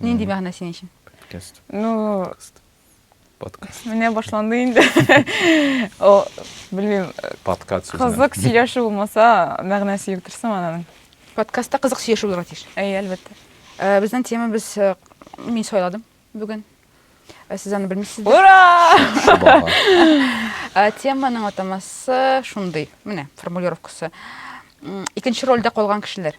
Нинди мәгънә синең өчен? Подкаст. Ну, подкаст. Подкаст. Менә башланды инде. О, белмим. Подкаст. Кызык сөйләшү булмаса, мәгънәсе юк дөресме аның? Подкастта кызык сөйләшү булырга тиеш. Әй, әлбәттә. Э, безнең тема без э, мин сайладым бүген. Э, сез аны белмисез. Ура! Теманың атамасы шундый. Менә формулировкасы. Икенче рольдә калган кешеләр.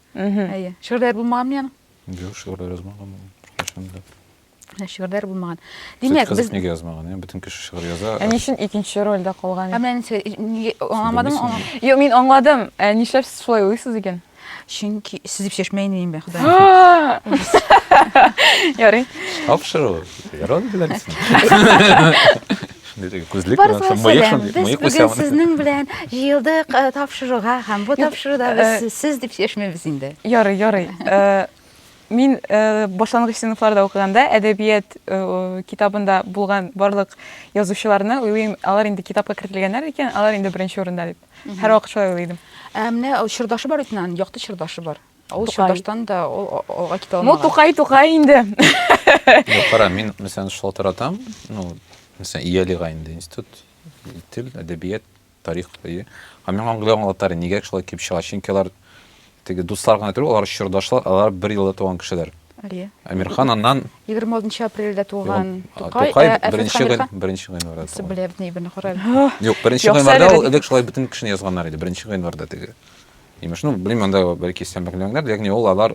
Әйе. Шигырьләр булмаган мени аның? Юк, шигырьләр язмаган ул беркайчан да. Ә шигырьләр булмаган. Димәк, без Кызык нигә язмаган? Яни бөтен кеше шигырь яза. Ә ни өчен икенче рольдә калган? Ә менә нәрсә, аңламадым аңа. Юк, мин аңладым. Ә нишләп сез шулай уйлыйсыз икән? Чөнки сез дип чәчмә инде мин бе, Ходай. Ярый. Абшыр ул. Яралар диләр син. Барысына сәлам. Без бүген сезнең белән җыелдык тапшыруга һәм бу тапшыруда без сез дип чишмибез инде. Ярый, ярый. Мин башлангыч сыйныфларда укыганда әдәбият китабында булган барлык язучыларны уйлыйм, алар инде китапка кертелгәннәр икән, алар инде беренче урында дип. Һәрвакыт шулай уйлый идем. Ә менә чордашы бар бит аның, якты чордашы бар. Ул Тукай. Чудаштан да ул а- алга китә Ну, алмаган. тукай, тукай инде. Ну, кара, мин, мәсәлән, шалтыратам, ну, мәсәлән, Иялига инде институт, тел, әдәбият, тарих, әйе. Һәм миңа аңлый аңлатар, нигә шулай килеп чыга, чөнки алар теге дуслар гына түгел, алар чордашлар, алар бер елда туган кешеләр. Әйе. Әмирхан аннан 26 апрельдә туган а, Тукай, Тукай ә Әфрәт беренче гын, Хәмирхан беренче гыйнварда Сез туган. белә бит ни белә, Кораль. Юк, беренче Юкса гыйнварда әле ул бит- элек шулай бөтен кешене язганнар иде, беренче гыйнварда теге. Имеш, ну, белмим, анда бәлки сән белмәгәннәрдер, ягъни ул алар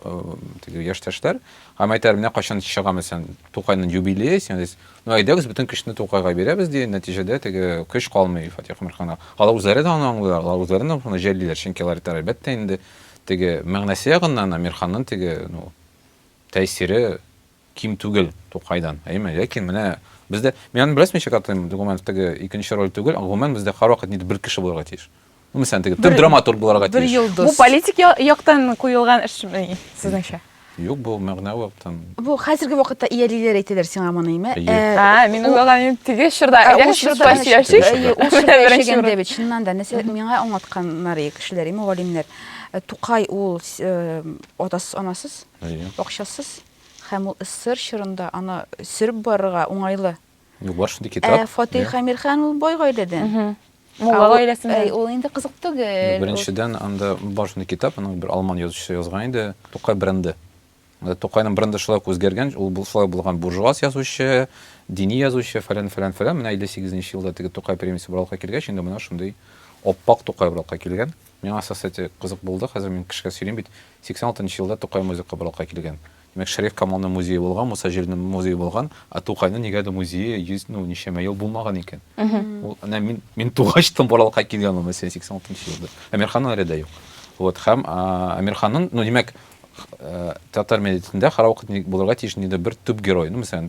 теге яшьтәшләр, һәм әйтәләр, менә кайчан чыга мәсәлән Тукайның юбилее, син дис, ну әйдәгез бөтен көчне Тукайга бирәбез ди, нәтиҗәдә теге көч калмый Фатих Мирханга. Алар үзләре дә аны аңлыйлар, алар үзләре дә моны җәллиләр, чөнки алар әйтәләр, әлбәттә инде теге мәгънәсе ягыннан Мирханның теге, ну, тәэсире Ким түгел Тукайдан, әйеме? Ләкин менә бездә, мин аны беләсезме ничек атыйм, Догуманов теге икенче роль түгел, ә гомумән бездә һәрвакыт нидер бер кеше булырга тиеш. Ну, мәсәлән, теге төп драматург булырга тиеш. Бер йолдыз. Бу политик яктан куелган эшме, сезнеңчә? Юк, бу мәгънә яктан. Бу хәзерге вакытта иялиләр әйтәләр сиңа моны, әйме? Ә, мин уйлаганым теге чорда, әгәр без шулай яшисек. Әйе, ул чорда яшәгәндә бит, чыннан да, нәрсә миңа аңлатканнар ие кешеләр, ие мөгаллимнәр. Тукай ул атасыз-анасыз, акчасыз. Һәм ул эсэр чорында аны сөреп барырга уңайлы. Юк, бар шундый китап. Ә Фатих Әмирхан ул бай гаиләдән. Мулла гаиләсеннән. Әй, ул инде кызык түгел. Беренчедән, анда бар шундый китап, аны бер алман язучысы язган иде, Тукай бренды. Тукайның бренды шулай үзгәргән, ул шулай булган буржуаз язучы, дини язучы, фәлән, фәлән, фәлән. Менә 58 нче елда теге Тукай премиясе барлыкка килгәч, инде менә шундый оппак Тукай барлыкка килгән. Миңа соцсети кызык булды, хәзер мин кешегә сөйлим бит. 86 нчы елда Тукай музей кабалыкка килгән. Димәк, Шәриф Камалның музее булган, Муса Җәлилнең музее булган, ә Тукайның нигәдер музее йөз, ну, ничәмә ел булмаган икән. Ул, әнә, мин, мин тугач тын Боралыкка килгән ул мәсьәлә 86 нчы елда. Әмирханның әле дә юк. Вот, һәм Әмирханның, ну, димәк, татар милләтендә һәрвакыт ни булырга тиеш, нидер бер төп герой, ну, мәсәлән,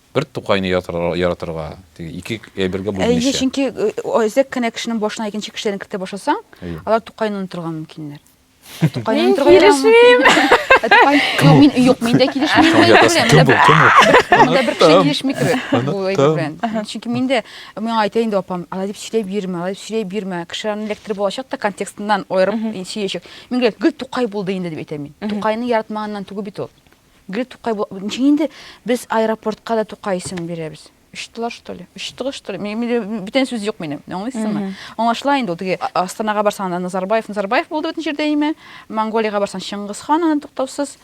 Бер тукайны яратырга, теге ике әйбергә бүлмичә. Әйе, чөнки әзәк кенә кешенең башына икенче кешеләрне кертә башласаң, алар тукайны онытырга мөмкиннәр. Тукайны онытырга килешмим. Тукай, мин юк, мин дә килешмим. Кем бу? Кем бу? Монда бер кеше килешми кебек. Бу әйбер белән. Чөнки мин дә миңа әйтә инде апам, алай дип сөйләп йөрмә, алай дип сөйләп йөрмә. Кешеләрне эләктереп алачак та контекстыннан аерып сөйләячәк. Мин гел Тукай булды инде дип әйтәм мин. Тукайны яратмаганнан түгел бит ул. Гел Тукай бу, ничек инде без аэропортка да Тукай исемен бирәбез? Очтылар что ли? Очтыгы что ли? Мин бүтән сүз юк минем. Аңлыйсызмы? Аңлашыла инде ул теге Астанага барсаң да Назарбаев, Назарбаев булды бөтен җирдә име? Монголиягә барсаң Чыңгыз хан аны туктаусыз.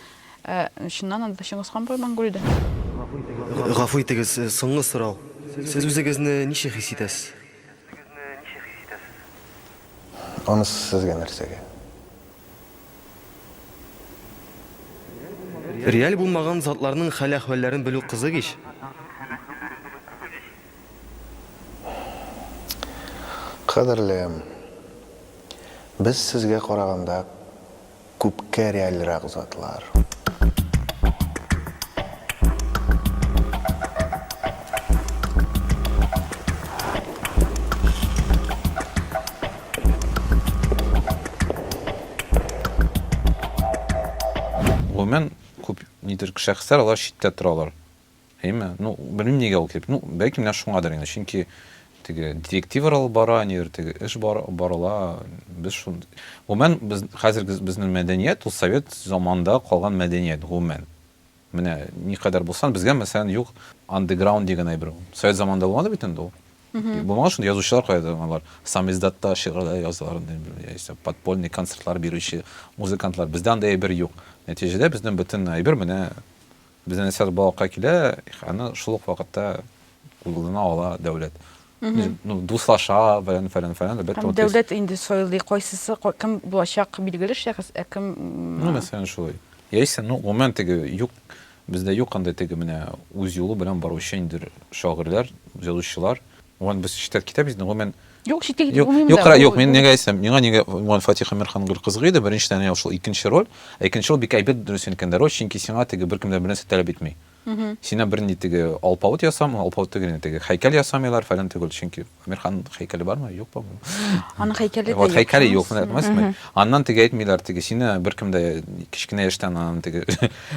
Э, чыннан анда Чыңгыз хан бар Монголиядә. Гафу итегез, э, соңгы сорау. Сез үзегезне ничек хис итәсез? Анысы сезгә нәрсәгә? Реаль булмаган затларның хәл-әхвәлләрен белү кызык ич. Кадерлем! Без сезгә караганда күпкә реальрак затлар. Гомумән, күп нидер шәхесләр алар читтә торалар. Әйме? Ну, белмим нигә ул килеп. Ну, бәлки менә шуңадыр инде. Чөнки теге директивалар алып бара, нидер теге эш бар, барыла. Без шун. Гомумән, без хәзерге безнең мәдәният ул совет заманында калган мәдәният гомумән. Менә никадәр булсан, безгә мәсәлән юк андеграунд дигән әйбер. Совет заманында булмады бит инде ул. Булмаган шундый язучылар кайда алар? Самиздатта шигырьләр язалар, яисә подпольный концертлар бирүче музыкантлар. Бездә андый әйбер юк. Нәтиҗәдә безнең бөтен әйбер менә безнең нәрсә балыкка килә, аны шул ук вакытта кулына ала дәүләт ну дуслаша фәлән фәлән фәлән әлбәттә дәүләт инде сайлый кайсысы кем булачак билгеле шәхес ә кем ну мәсәлән шулай яисә ну гомумән теге юк бездә юк андай теге менә үз юлы белән баручы инде шагыйрьләр язучылар гомумән без читтә китәбез инде гомумән Юк, читтә китеп булмыйм да. Юк, юк, мин нигә әйтсәм, миңа нигә Гуман Фатих Әмирхан гел кызык иде, беренчедән ул шул икенче роль, ә икенче роль бик әйбәт дөресен кендә роль, чөнки сиңа теге беркем дә бернәрсә таләп итми. Сине бернинди теге алпавыт ясамый, алпавыт түгел инде, теге хәйкәл ясамыйлар, фәлән түгел, чөнки Әмирхан хәйкәле бармы, юк ба бу? Аның хәйкәле дә юк. Хәйкәле юк, менә күрәсезме? Аннан теге әйтмиләр, теге сине беркем дә кечкенә яшьтән аның теге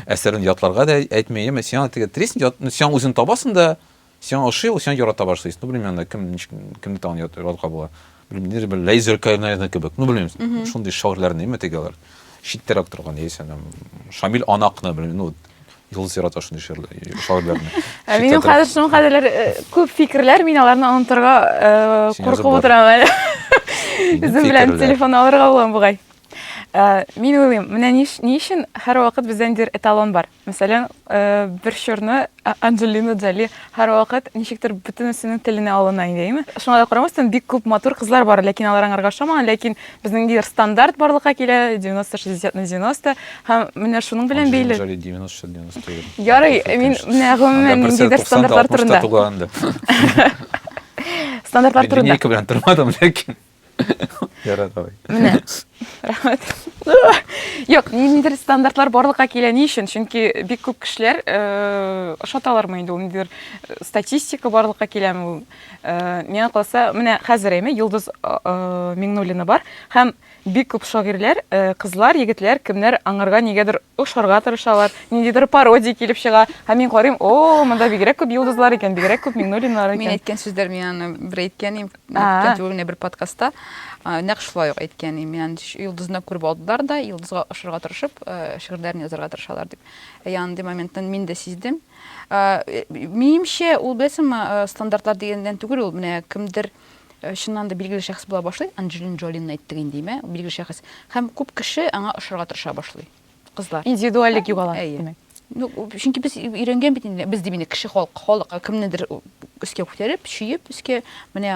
әсәрен ятларга да әйтми, яме сиңа теге тресник, сиңа үзең табасың да, Сиңа ошый ул, сиңа ярата башлый. Ну, белмим анда кем ничек кемне тагын яратырга була. Белмим, нидер бер Лейзер Кайнайны кебек. Ну, белмим, шундый шагыйрьләрне ме теге алар. Читтәрәк торган яисә там Шамил Анакны, белмим, ну, Юлдыз ярата шундый шагыйрьләрне. Ә минем хәзер шуның хәзерләр э, күп фикерләр, мин аларны онытырга э, куркып утырам әле. Үзем белән телефон алырга булам бугай. Э, мин уйлыйм, менә ни өчен һәрвакыт бездә нидер эталон бар. Мәсәлән, бер чорны Анджелина Джоли һәрвакыт ничектер бөтенесенең теленә алына иде, әйме? Шуңа да карамастан, бик күп матур кызлар бар, ләкин алар аңарга ошамаган, ләкин безнең ниндидер стандарт барлыкка килә, 90 60 на 90, һәм менә шуның белән бәйле. Анджелина Джоли 90 60 на 90 түгел. Ярый, мин менә гомумән ниндидер стандартлар турында. Стандартлар турында. Линейка белән тормадым, ләкин. Ярар, давай. Менә. Рәхмәт. Юк, ниндидер стандартлар барлыкка килә ни өчен? Чөнки бик күп кешеләр э, ошаталармы инде ул ниндидер э, статистика барлыкка киләме ул? Э, Миңа калса, менә хәзер әйме Йолдыз э, э, Миңнуллина бар һәм бик күп шагыйрьләр, э, кызлар, егетләр, кемнәр аңарга нигәдер ошарга тырышалар, ниндидер пародия килеп чыга. Һәм мин карыйм, о, монда бигрәк күп Йолдызлар икән, бигрәк күп Миңнуллиналар Мин икән. әйткән сүзләр мин аны бер әйткән идем. Үткән түгел генә бер подкастта нәкъ шулай ук әйткән идем. Яны йолдызны күреп алдылар да, йолдызга ошырга тырышып, шигырьләрен язарга тырышалар дип. Ә андый моментны мин дә сиздем. Минемчә, ул беләсеңме, стандартлар дигәндән түгел ул, менә кемдер чыннан да билгеле шәхес була башлый, Анджелин Джолинны әйттек инде, димә, билгеле шәхес. Һәм күп кеше аңа ошырга тырыша башлый. Кызлар. Индивидуальлек югала, димәк. Ну, чөнки без өйрәнгән бит инде, без дип инде кеше халык, халык кемнедер өскә күтәреп, чөеп өскә, менә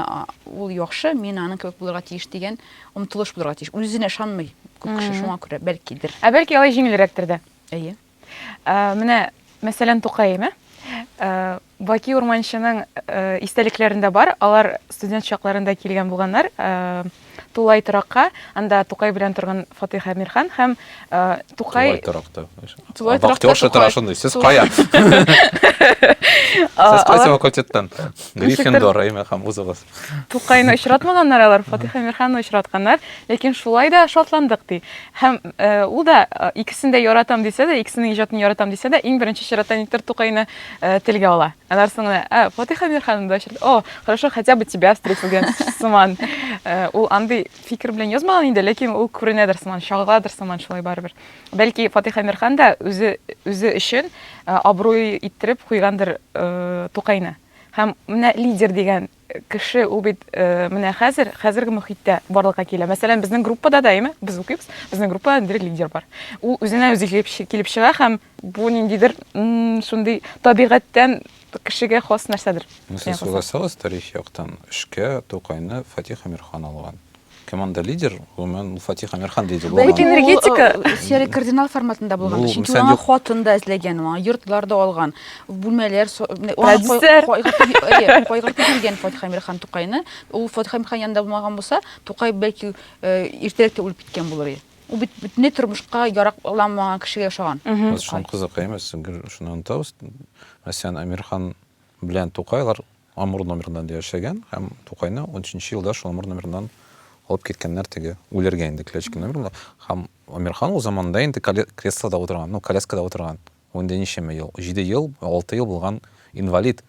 ул яхшы, мин аның кебек булырга тиеш дигән омтылыш булырга тиеш. Үзенә ышанмый күп кеше шуңа күрә, бәлкидер. Ә бәлки алай җиңелрәктер дә. Әйе. Ә, менә мәсәлән Тукаем, ә? Баки Урманчының истәлекләрендә бар, алар студент чакларында килгән булганнар Тулай торакка, анда Тукай белән торган Фатыйх Әмирхан һәм Тукай... Тулай торакта. Тулай торакта. Актёрша тора шундый, сез кая? Сез кайсы факультеттан? Гриффиндор, әйме, һәм узыгыз. Тукайны очратмаганнар алар, Фатих Әмирханны очратканнар, ләкин шулай да шатландык ди. Һәм э, ул да э, икесен дә яратам дисә дә, икесенең иҗатын яратам дисә дә, иң беренче чиратта никтер Тукайны э, телгә ала. Аннан соң гына, ә, Фатих Әмирханны да очрат. О, хорошо, хотя бы тебя встретил дигән сыман. Э, Ул андый фикер белән язмаган инде, ләкин ул күренәдер сыман, чагыладыр сыман шулай барыбер. Бәлки Фатих Әмирхан да үзе үзе өчен э, абруй иттереп куйгандыр э, Тукайны. Һәм менә лидер дигән кеше, ул бит менә хәзер, хәзерге мөхиттә барлыкка килә. Мәсәлән, безнең группада да, әйме, без укыйбыз, безнең группада дирек лидер бар. Ул үзенә үзе килеп чыга һәм бу ниндидер шундый табигатьтән кешегә хас нәрсәдер. Сез согласалась тарих яктан? Эшкә Тукайны Фатих Әмирхан алган. Кем анда лидер? Гомумән, ул Фатих Әмирхан лидер Бәлки булмаган. энергетика. Ул, э, Серый кардинал форматында булган. Ну, Чөнки мисәл аңа юк. хатын да эзләгән, аңа йортлар да алган, бүлмәләр, со- менә аңа кай- Продюсер. кайгыртып йө- әйе, кайгыртып йөргән Фатих Әмирхан Тукайны. Ул Фатих Әмирхан янында булмаган булса, Тукай бәлки э, иртәрәк тә үлеп киткән булыр иде. Ул бит бөтенләй тормышка яракламаган кешегә ошаган. Без шуны кызыкай эмес, гел шуны онытабыз. Мәсәлән, Әмирхан Белән Тукайлар Амур номерында инде яшәгән һәм Тукайны унөченче елда шул Амур номерыннан алып киткәннәр теге үләргә инде Клячкин номерында. Һәм Амирхан ул заманда инде креслода утырган, ну, коляскада утырган. Ул инде ничәмә ел, җиде ел, алты ел булган инвалид.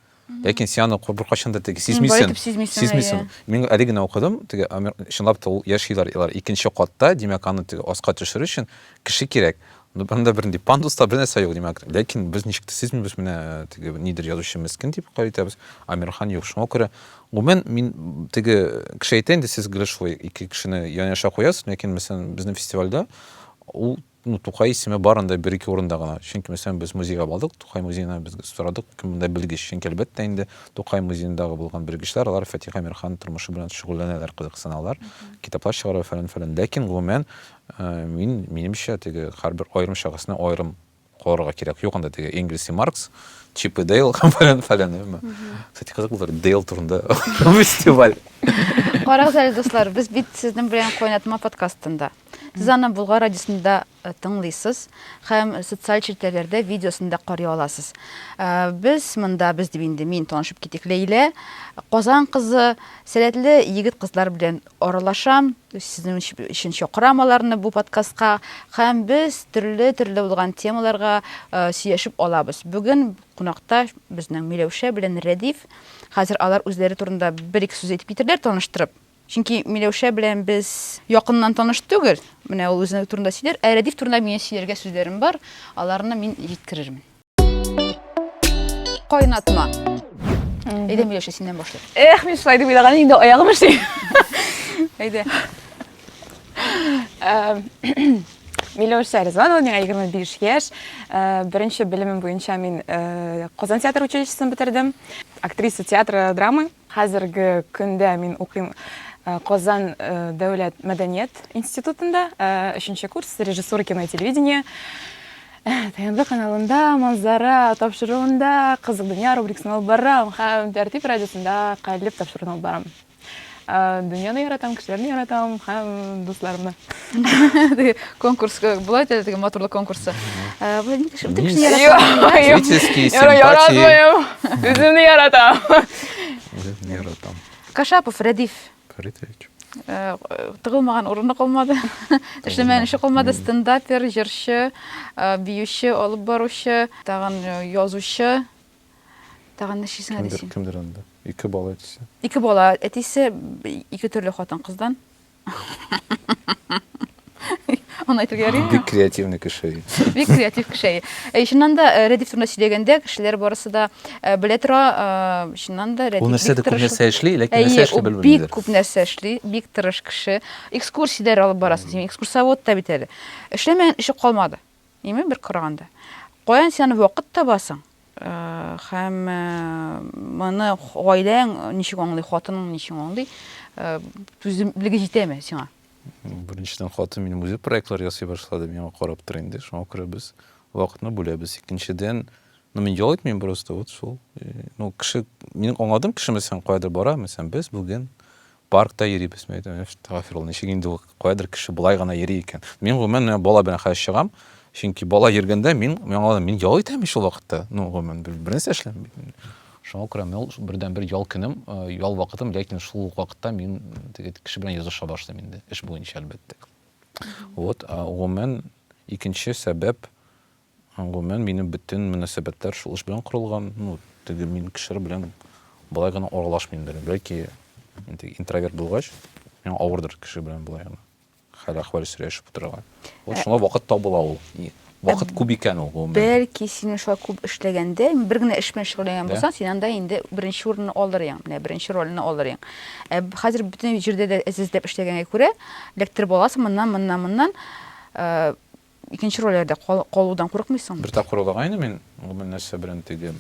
Ләкин син аны беркайчан да теге сизмисең. Сизмисең. Мин әле генә укыдым, теге чынлап та ул яшиләр, икенче катта, димәк, аны теге аска төшерү өчен кеше кирәк. Анда бернинди пандус та бернәрсә юк, димәк. Ләкин без ничек тә сизми, без менә теге нидер язучы мескен дип кабул итәбез. Амирхан юк. Шуңа күрә гомумән мин теге кеше әйтә инде, сез гел шулай ике кешене янәшә куясыз, ләкин мәсәлән безнең фестивальдә ул ну, Тукай исеме бар анда бер-ике урында гына. Чөнки мәсәлән без музейга бардык, Тукай музеена без сорадык, кем монда белгеч. Чөнки әлбәттә инде Тукай музеендагы булган белгечләр, алар Фатих Амирхан тормышы белән шөгыльләнәләр, кызыксыналар, китаплар чыгаралар, фәлән-фәлән. Ләкин гомумән Мин, минемчә, теге һәрбер аерым шәхесне аерым карарга кирәк. Юк анда теге Энгельс и Маркс, Чип и Дейл, фәлән, фәлән, әмма. Кстати, кызык булыр, Дейл турында фестиваль. Карагыз әле, дуслар, без бит сезнең белән кайнатма подкастында. Сез аны Булгар радиосында э, тыңлыйсыз һәм социаль челтәрләрдә видеосын да карый аласыз. Э, без монда, без дип инде мин танышып китик, Ләйлә, Казан кызы, сәләтле егет-кызлар белән Аралашам, сезнең өчен чакырам аларны бу подкастка һәм без төрле-төрле булган темаларга сөйләшеп алабыз. Бүген кунакта безнең Миләүшә белән Рәдиф. Хәзер алар үзләре турында бер-ике сүз әйтеп китерләр, таныштырып. Чөнки Миләүшә белән без якыннан таныш түгел. Менә ул үзе турында сөйләр, ә Рәдиф турында минем сөйләргә сүзләрем бар, аларны мин җиткерермен. Кайнатма. Әйдә, Миләшә, синнән башлыйк. Эх, мин шулай дип уйлаган инде аягым эшли. Әйдә. Миләүшә Ризванова, миңа 25 яшь. Э, беренче белемем буенча мин э, Казан театр училищесын бетердем. Актриса театра драмы Хәзерге көндә мин укыйм Казан дәүләт мәдәният институтында, өченче курс, режиссура кино и телевидение. ТНВ каналында Манзара тапшыруында Кызык дөнья рубрикасын алып барам һәм Тәртип радиосында Калеб тапшыруын алып барам. Дөньяны яратам, кешеләрне яратам һәм дусларымны. конкурс э, бывает это такие моторлы конкурсы э, электрические симпатии өзімді яратам өзімді яратам кашапов радиф фаритович э, тыгылмаган урыны калмады эшләмәгән эше калмады стендапер җырчы биюче алып баручы тагын язучы тагын ничесенә дисең кемдер анда ике бала әтисе ике бала әтисе ике төрле хатын кыздан Аны әйтергә яри. Бик креативный кеше. Бик креатив кеше. Э, чыннан да э, Рәдиф турында сөйләгәндә, кешеләр барысы да э, белә тора, чыннан да Рәдиф. Ул нәрсә дә күп нәрсә эшли, ләкин нәрсә эшли белмиләр. Бик күп нәрсә эшли, бик тырыш кеше. Экскурсияләр алып барасың, син экскурсовод та бит әле. Эшләмәгән эше калмады. Ими бер караганда. Каян син аны вакыт табасың? Һәм моны гаиләң ничек аңлый, хатының ничек аңлый? Түземлеге җитәме сиңа? Беренчедән хатын минем үзе проектлар ясый башлады, миңа карап тора инде. Шуңа күрә без вакытны бүләбез. Икенчедән, ну мин ял итмим просто вот шул. Ну кеше, мин аңладым кешемесен каядыр бара, мәсәлән, без бүген Паркта йөрибез, мин әйтәм, әстәгъфирулла, ничек инде ул, каядыр кеше болай гына йөри икән. Мин, гомумән, менә бала белән хәзер чыгам, чөнки бала йөргәндә мин, мин аңладым, мин ял итәм бит шул вакытта, ну, гомумән, бернәрсә эшләмим бит мин. Шуңа күрә мин ул бердәнбер ял көнем, ял вакытым, ләкин шул ук вакытта мин теге кеше белән языша башлыйм инде, эш буенча, әлбәттә. Вот, гомумән, икенче сәбәп, Гомумән, минем бөтен мөнәсәбәтләр шул эш белән корылган. Ну, теге мин кешеләр белән болай гына аралашмыйм да. Бәлки, инде интроверт булгач, миңа авырдыр кеше белән болай гына хәл-әхвәл сөйләшеп утырырга. Вот ә шуңа вакыт табыла ул. Вакыт күп икән ул гомумән. Бәлки синең шулай күп эшләгәндә, бер генә эш белән шөгыльләнгән булсаң, син анда инде беренче урынны алыр идең, менә беренче рольне алыр идең. Ә хәзер бөтен җирдә дә эзләп эшләгәнгә күрә, электр баласы моннан, моннан, моннан, икенче рольләрдә калудан курыкмыйсыңмы? Бер тапкыр улагайны мин, гомумән нәрсә белән теге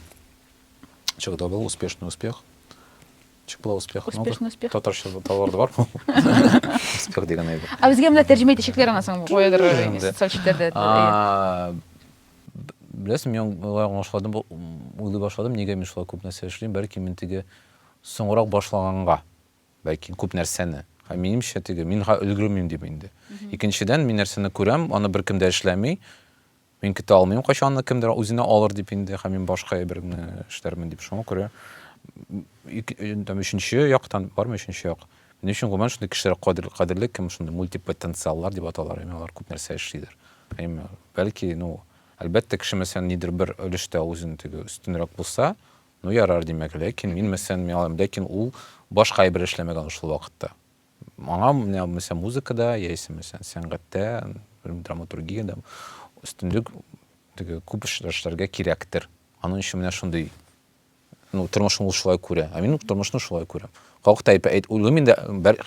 чыгды ул успешный успех. Чык була успех. Успешный успех. Татарча таварды бар. Успех дигән әйбер. Ә безгә менә тәрҗемә итәчәкләр ана соң куядыр социаль челтәрдә. Беләсең, мин аңлашладым, уйлый башладым, нигә мин шулай күп нәрсә эшлим, бәлки мин теге соңрак башлаганга. Ләкин күп нәрсәне. Һәм минемчә, теге, мин га өлгермим дип инде. Икенчедән, мин нәрсәне күрәм, аны беркем дә эшләми. Мин көтә алмыйм, кайчан аны кемдер үзенә алыр дип инде, һәм мин башка әйберне эшләрмен дип. Шуңа күрә, там, өченче яктан, бармы өченче як? Минем өчен, гомумән, шундый кешеләр кадерле, кадерле кем шундый мультипотенциаллар дип аталар, яме алар күп нәрсә эшлидер. Яме, бәлки, ну, әлбәттә, кеше, мәсәлән, нидер бер өлештә үзен теге өстенрәк булса, Ну, ярар, димәк, ләкин мин, мәсәлән, миңа, ләкин ул башка әйбер эшләмәгән ул шул вакытта. Аңа, менә, мәсәлән, музыкада, яисә, мәсәлән, сәнгатьтә, белмим, драматургиядә өстенлек теге күп эш- эшләргә кирәктер. Аның өчен менә шундый, ну, тормышны ул шулай күрә. Ә мин тормышны шулай күрәм. Как ты опять? Әйт, уйлыйм инде,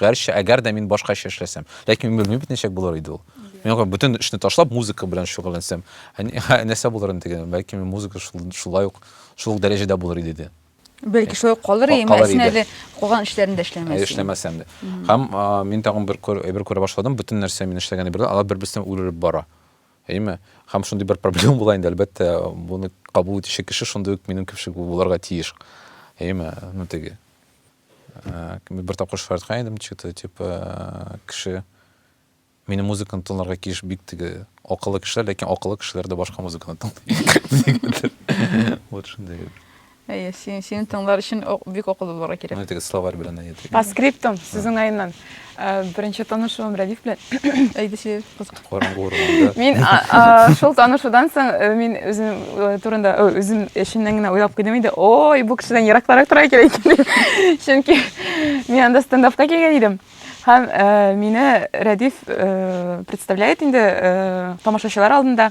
гәрчә, әгәр дә мин башкача эшләсәм. Ләкин мин белмим бит ничек булыр иде ул. Мин аңа бөтен эшне ташлап, музыка белән шөгыльләнсәм, нәрсә булыр инде диген. Бәлки мин музыка шулай ук, шул ук дәрәҗәдә булыр иде ди. Бәлки шулай ук калыр иде, әмма син әле калган эшләрендә эшләмәсәң. Әле эшләмәсәм дә. Һәм мин тагын бер әйбер күрә башладым, бөтен нәрсә мин эшләгән әйберләр, алар бер-берсеннән үрелеп бара. Әйеме? Һәм шундый бер проблема була инде, әлбәттә, буны кабул итүче кеше шундый ук минем кебек булырга тиеш. Әйеме? Ну теге. Э, бер тапкыр шаярткан идем, что-то типа кеше мені музыканы тыңларга кеш бик теге акыллы кешеләр ләкин акыллы кешеләр дә башка музыканы тыңлый вот шундый Әйе, син, сине тыңлар өчен бик акыллы булырга кирәк. Әйтегез, словарь белән әйтегез. По скриптум, сүз уңаеннан. Беренче танышуым Рәдиф белән. Әйдә сөйлә, кызык. Караңгы урманда. Мин шул танышудан соң мин үзем турында, үзем эшеннән генә уйлап куйдым инде. Ой, бу кешедән еракларак тора икән икән. Чөнки мин анда стендапка килгән идем. Һәм мине Рәдиф представляет инде тамашачылар алдында.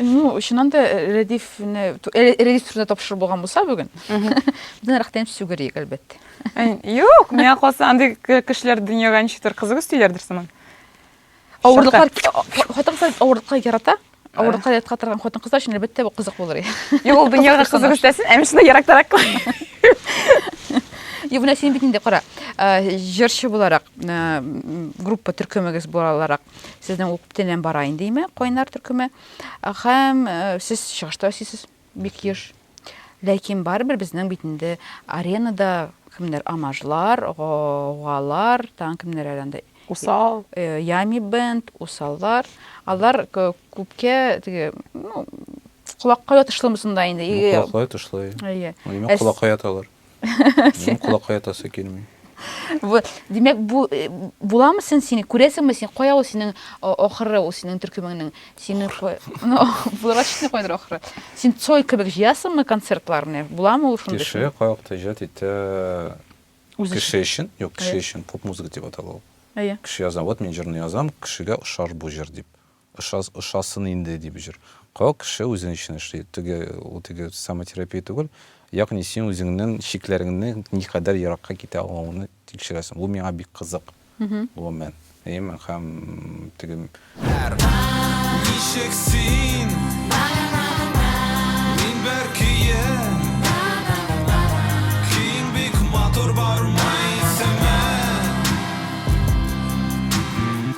Ну, чыннан да э, Рәдифне, э, Рәдиф турында тапшыру булган булса бүген, бездән рәхәтләнеп сүгерик, әлбәттә. Юк, миңа калса андый кешеләр дөньяга ничектер кызык өстиләрдер сыман. Авырлыклар, хатын-кызлар авырлыкка ярата, авырлыкка яткан торган хатын-кызлар өчен әлбәттә бу кызык булыр. Юк, ул дөньяга кызык өстәсен, ә мин ярактарак кылам. Юк, менә син бит инде кара, э, җырчы буларак, группа төркемегез буларак, сезнең ук бөтенләй бара инде име кайнар төркеме һәм сез чыгышта сез бик еш ләкин барыбер безнең бит инде аренада кемнәр амажлар галар тан кемнәр әле усал ями бенд усаллар алар күпкә теге ну колакка ятышлымы сонда инде колакка ятышлы әйе колакка яталар Минем колакка ятасы килми. Димәк, бу э, буламы син сине күрәсеңме син? Кая ул синең ахыры, ул синең төркемеңнең? Сине ну, булырга читне кайдыр ахыры. Син цой кебек җыясыңмы концертларны? Буламы ул шундый? Кеше кайвакыт иҗат итә. Кеше өчен, юк, кеше өчен поп музыка дип атала ул. Әйе. Кеше яза, вот мин җырны язам, кешегә ошар бу җыр дип. Ошас, ошасын инде, дип җор. Ка, кеше үзен өчен эшли, теге, ул теге самотерапия түгел, ягъни син үзеңнең чикләреңне никадәр еракка китә алуыңны тикшерәсең. Бу миңа бик кызык, гомумән. Әйеме? Һәм теге. Әр. Ничек син? Мин бер көен. Көең бик матур, бармы исеме?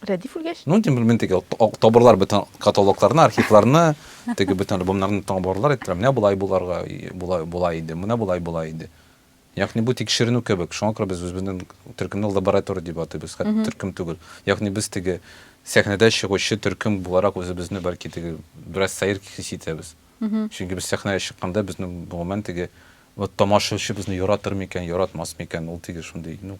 Рәдиф үлгәч? Ну, тем более, теге табырлар бөтен каталогларны, архивларны, теге бөтен альбомнарны табырлар, әйттеләр, менә болай буларга, болай, болай иде, менә болай, болай иде. Ягъни бу тикшеренү кебек. Шуңа күрә без үзебезнең төркемне лаборатор дип атыйбыз, хәтта төркем түгел. Ягъни без теге сәхнәдә чыгучы төркем буларак үзебезне бәлки теге бераз сәер хис итәбез. Чөнки без сәхнәгә чыкканда безнең гомумән теге вот тамашачы безне яратыр микән, яратмас микән, ул теге шундый, ну,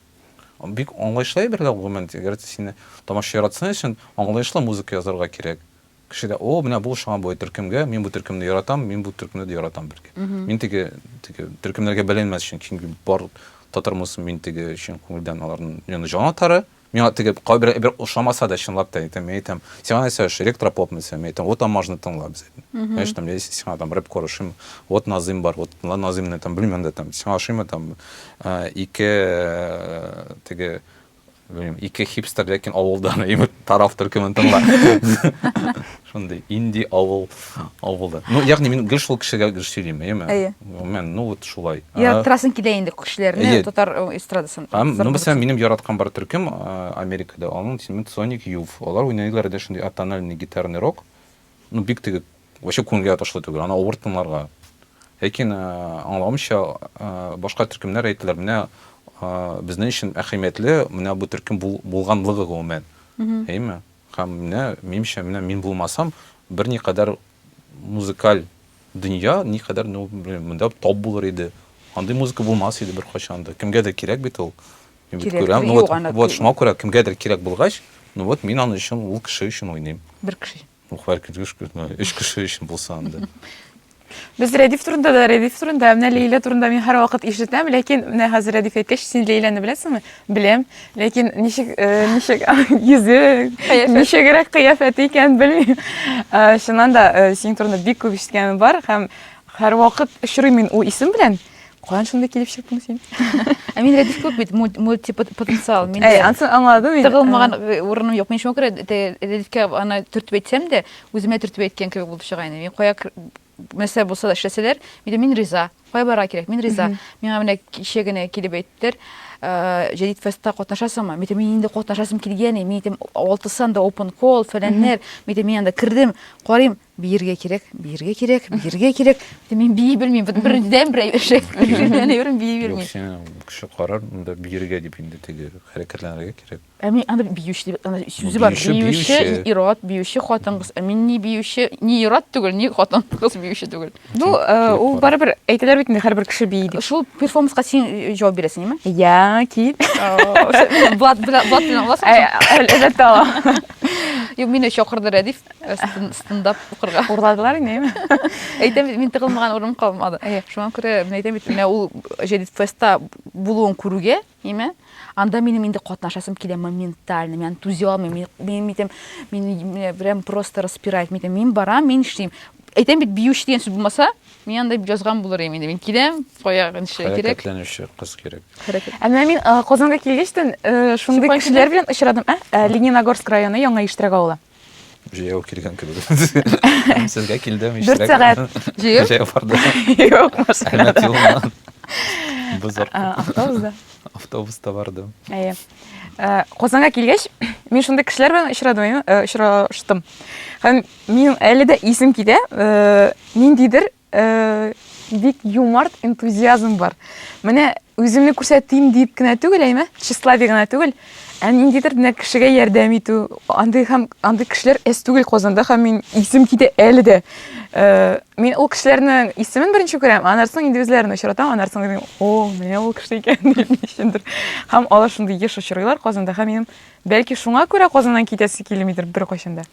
Бик аңлаешлы әйбер дә ул, гомумән, әгәр дә сине тамашачы яратсын өчен, аңлаешлы музыка язарга кирәк. Кешегә, о, менә бу ошаган бу төркемгә, мин бу төркемне яратам, мин бу төркемне дә яратам, бәлки. Мин теге, теге төркемнәргә бәйләнмәс өчен, чөнки бар татар музыкасын мин теге чын күңелдән аларның мин аны җан атары, миңа теге кайбер әйбер ошамаса да, чынлап та әйтәм, мин әйтәм, сиңа нәрсә ошый, электропоп мисә, мин әйтәм, вот Аммажны тыңла, без әйтәм. Знаешь, там, если сиңа там рэпкор ошыймы, вот Назыйм бар, вот тыңла Назыймны, там, белмим дә, там, сиңа ошыймы, там, Ике теге белмим, ике хипстер ләкин авылдан именно тарав төркемен тыңла. Шундый инди авыл авылда. Ну, ягъни мин гел шул кешегә гел сөйлим, әйеме? Әйе. Мен, ну вот шулай. Я трасын килә инде кешеләрне татар эстрадасын. Һәм, ну, мәсәлән, минем яраткан бар төркем Америкада, аның исеме Sonic Youth. Алар уйныйлар иде шундый атональный гитарный рок. Ну, бик теге вообще күңелгә ятышлы түгел, аны авыр тыңларга. Ләкин э, аңлавымча, э, башка төркемнәр әйттеләр, менә э, безнең өчен әһәмиятле менә бу төркем бул, булганлыгы гомумән. Әйме? Һәм менә минемчә, менә мин булмасам, бер никадәр музыкаль дөнья никадәр ну, монда топ булыр иде. Андый музыка булмас иде бер кайчан да. Кемгә дә кирәк бит ул. Мин бит күрәм, ну вот, вот шуңа күрә кемгә дә кирәк булгач, ну вот мин аны өчен ул кеше өчен уйныйм. Бер кеше. Ну, хәр кергеш көтмә. Өч кеше өчен булса анда. Без Рәдиф турында да, Рәдиф турында, менә Лейлә турында мин һәрвакыт ишетәм, ләкин менә хәзер Рәдиф әйткәч, син Лейләне беләсеңме? Беләм, ләкин ничек, э, ничек йөзе, Кыяфәт. ничегрәк кыяфәте икәнен белмим. Э, Чыннан да, э, синең турында бик күп ишеткәнем бар һәм һәрвакыт очрыйм мин ул исем белән. Каян шундый килеп чыктың син? Ә мин рәдиф күп бит, мультипотенциал. Мин Әй, ансын аңладым мин. Тыгылмаган э, урыным юк. Мин шуңа күрә рәдифкә аны төртеп әйтсәм дә, үземә төртеп әйткән кебек булып чыга инде. Мин кая нәрсә булса да эшләсәләр, мин мин риза. Кая барырга кирәк? Мин риза. Миңа менә кичә генә килеп әйттеләр, э, Җәдид фестта катнашасыңмы? Мин мин инде катнашасым килгән, мин әйтәм, алтысан да open call, фәләннәр. Мин мин анда кердем, карыйм, Биергә кирәк, биергә кирәк, биергә кирәк. Мин бии белмим, бит бердән бер эшек. Бердән бер бии белмим. Юк, син кеше карар, монда биергә дип инде теге хәрәкәтләнергә кирәк. Ә мин аны биюче дип, аны сүзе бар. Биюче, ират, биюче хатын кыз. Ә мин ни биюче, ни ират түгел, ни хатын кыз биюче түгел. Ну, ул барыбер әйтәләр бит инде һәрбер кеше бии дип. Шул перформанска син җавап бирәсең, яме? Я, кил. Блат, блат, блат. Әлбәттә. Юк, мине чакырды Рәдиф. стендап укырга урладылар инде эми әйтәм бит мин тыгылмаган урын калмады шуңа күрә мин әйтәм бит менә ул җәдит фестта булуын күрүгә эми анда минем инде катнашасым килә моментально мин түзи алмыйм мин әйтәм мин прям просто распирает мин әйтәм мин барам мин эшлим әйтәм бит биюче дигән сүз булмаса мин анда язган булыр идем инде мин киләм кая ничә кирәк хәрәкәтләнүче кыз кирәк ә менә мин казанга килгәч тә шундый кешеләр белән очрадым ә лениногорск районы яңа иштрәк авылы Җәяү килгән кебек. Сезгә килдем иштә. Дүрт сәгать җыеп. Җәяү барды. Юк, машина. Бозар. Автобуста. Автобуста бардым. Әйе. Э, Казанга килгәч, мин шундый кешеләр белән очрадым, очраштым. Һәм мин әле дә исем китә, э, ниндидер Э, бик юмарт энтузиазм бар. Менә үземне күрсәтим дип кенә түгел, әйме? Тщеславие гына түгел. Ә ниндидер менә кешегә ярдәм итү, андый һәм андый кешеләр әз түгел Казанда һәм мин исем китә әле дә. Э, мин ул кешеләрнең исемен беренче күрәм, аннан соң инде үзләрен очратам, аннан соң дим, о, менә ул кеше икән дип ничендер. Һәм алар шундый еш очрыйлар Казанда һәм минем бәлки шуңа күрә Казаннан китәсе килмидер беркайчан да.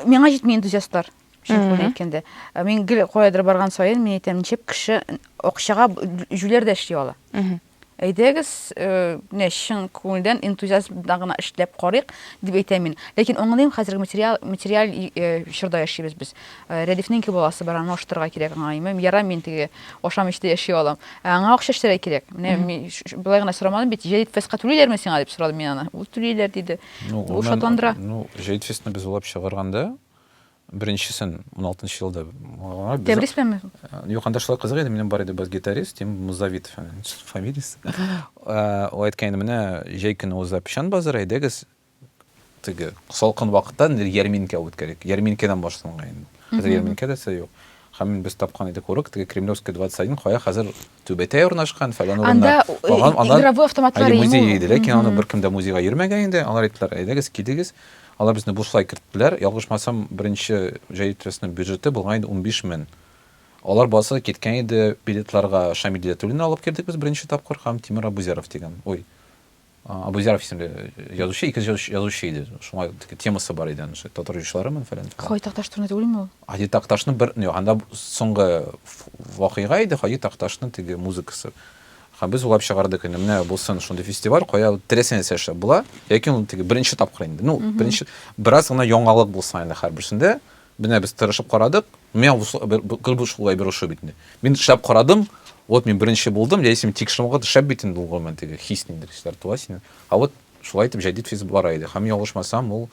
Миңа җитми энтузиастлар. Шәмхүлне әйткәндә. Ә Мин гел каядыр барган саен мин әйтәм, ничек кеше акчага җүләр дә эшли ала. Әйдәгез, э, менә чын күңелдән энтузиазм белән гына эшләп карыйк, дип әйтәм мин. Ләкин аңлыйм, хәзерге материал материаль и- э, чорда яшибез без. Э, Рәдифнең ике баласы бар, аны ашатырга кирәк аңа. Имем, Ярай мин теге ашамыйча да яши алам. Ә аңа акча эшләргә кирәк. Менә мин ш- ш- болай гына сорамадым бит, җәдитфестка түлиләрме сиңа дип сорадым мин аны. Ул түлиләр диде. Ну, Ул оннан- шатландыра. Ну, Җәдитфестны без уйлап чыгарганда, Беренчесен 16 нчы елда. Тәбрис белән Юк, анда шулай кызык иде, минем бар иде бас гитарист, Тим Музавит фамилиясе. Ул әйткән инде, менә җәй көне уза печән базары, әйдәгез, теге салкын вакытта нидер ярминкә үткәрик. Ярминкәдән башланган инде. Хәзер ярминкә дәсе юк. Һәм без тапкан идек урок, теге Кремлевская 21, кая хәзер Түбәтәй урнашкан, фәлән урында. Анда э, игровой автоматлар йөрми. Музей иде, ләкин аны беркем дә музейга йөрмәгән инде. Алар әйттеләр, әйдәгез, килегез. Алар безне бушлай керттеләр. Ялгышмасам, беренче җәй трестның бюджеты булган иде 15 мең. Алар басы киткән иде билетларга. Шамил Диләтуллин алып кердек без беренче тапкыр һәм Тимур Абузяров дигән. Ой, Абузяров исемле язучы, ике язучы иде. Шуңа темасы бар иде, ошо татар җырчыларымын фәлән. Хаҗи Такташ турында түгелме ул? Хаҗи Такташны бер, юк, анда соңгы вакыйга иде, Хаҗи Такташны теге музыкасы. Һәм без уйлап чыгардык инде, менә булсын шундый фестиваль, кая теләсә нәрсә эшләп була. Яки ул теге беренче тапкыр инде. Ну, беренче бераз гына яңалык булса инде һәрберсендә. Менә без тырышып карадык. Миңа бу гел бу шулай борышу бит инде. Мин эшләп карадым. Вот мин беренче булдым, яисә мин тикшерү вакыты шәп бит инде ул гомумән теге хис ниндидер хисләр туа синең. А вот шулай итеп җәдит физ бара иде. Һәм ялгышмасам, ул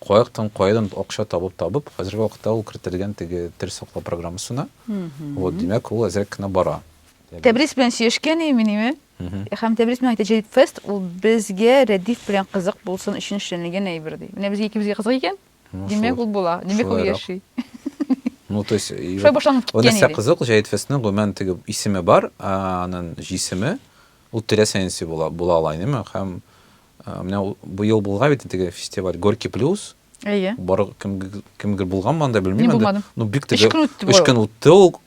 каяктан каядан акча табып табып, хәзерге вакытта ул кертелгән теге тел саклау программасына. Вот, димәк, ул әзрәк кенә бара. Тәбрис белән сөйләшкән идем мин име? Һәм Тәбрис миңа әйтте, Җәдит фест ул безгә Рәдиф белән кызык булсын өчен эшләнелгән әйбер ди. Менә безгә икебезгә кызык икән. Ну, Димәк, шулай. ул була. Димәк, ул Шулайрак. яши. Ну, то есть, и Шулай жо- башланып киткән Онысы иде. кызык, Җәет Фәснең гомумән теге исеме бар, ә, аның җисеме ул теләсәнси була, була ала инеме? Һәм ә, менә ул- бу ел булган бит теге фестиваль Горький плюс. Әйе. Бар кем кемгер булганмы анда белмим. Мин инде. булмадым. Ну, бик Өч теге көн үтте бу. өч көн үтте ул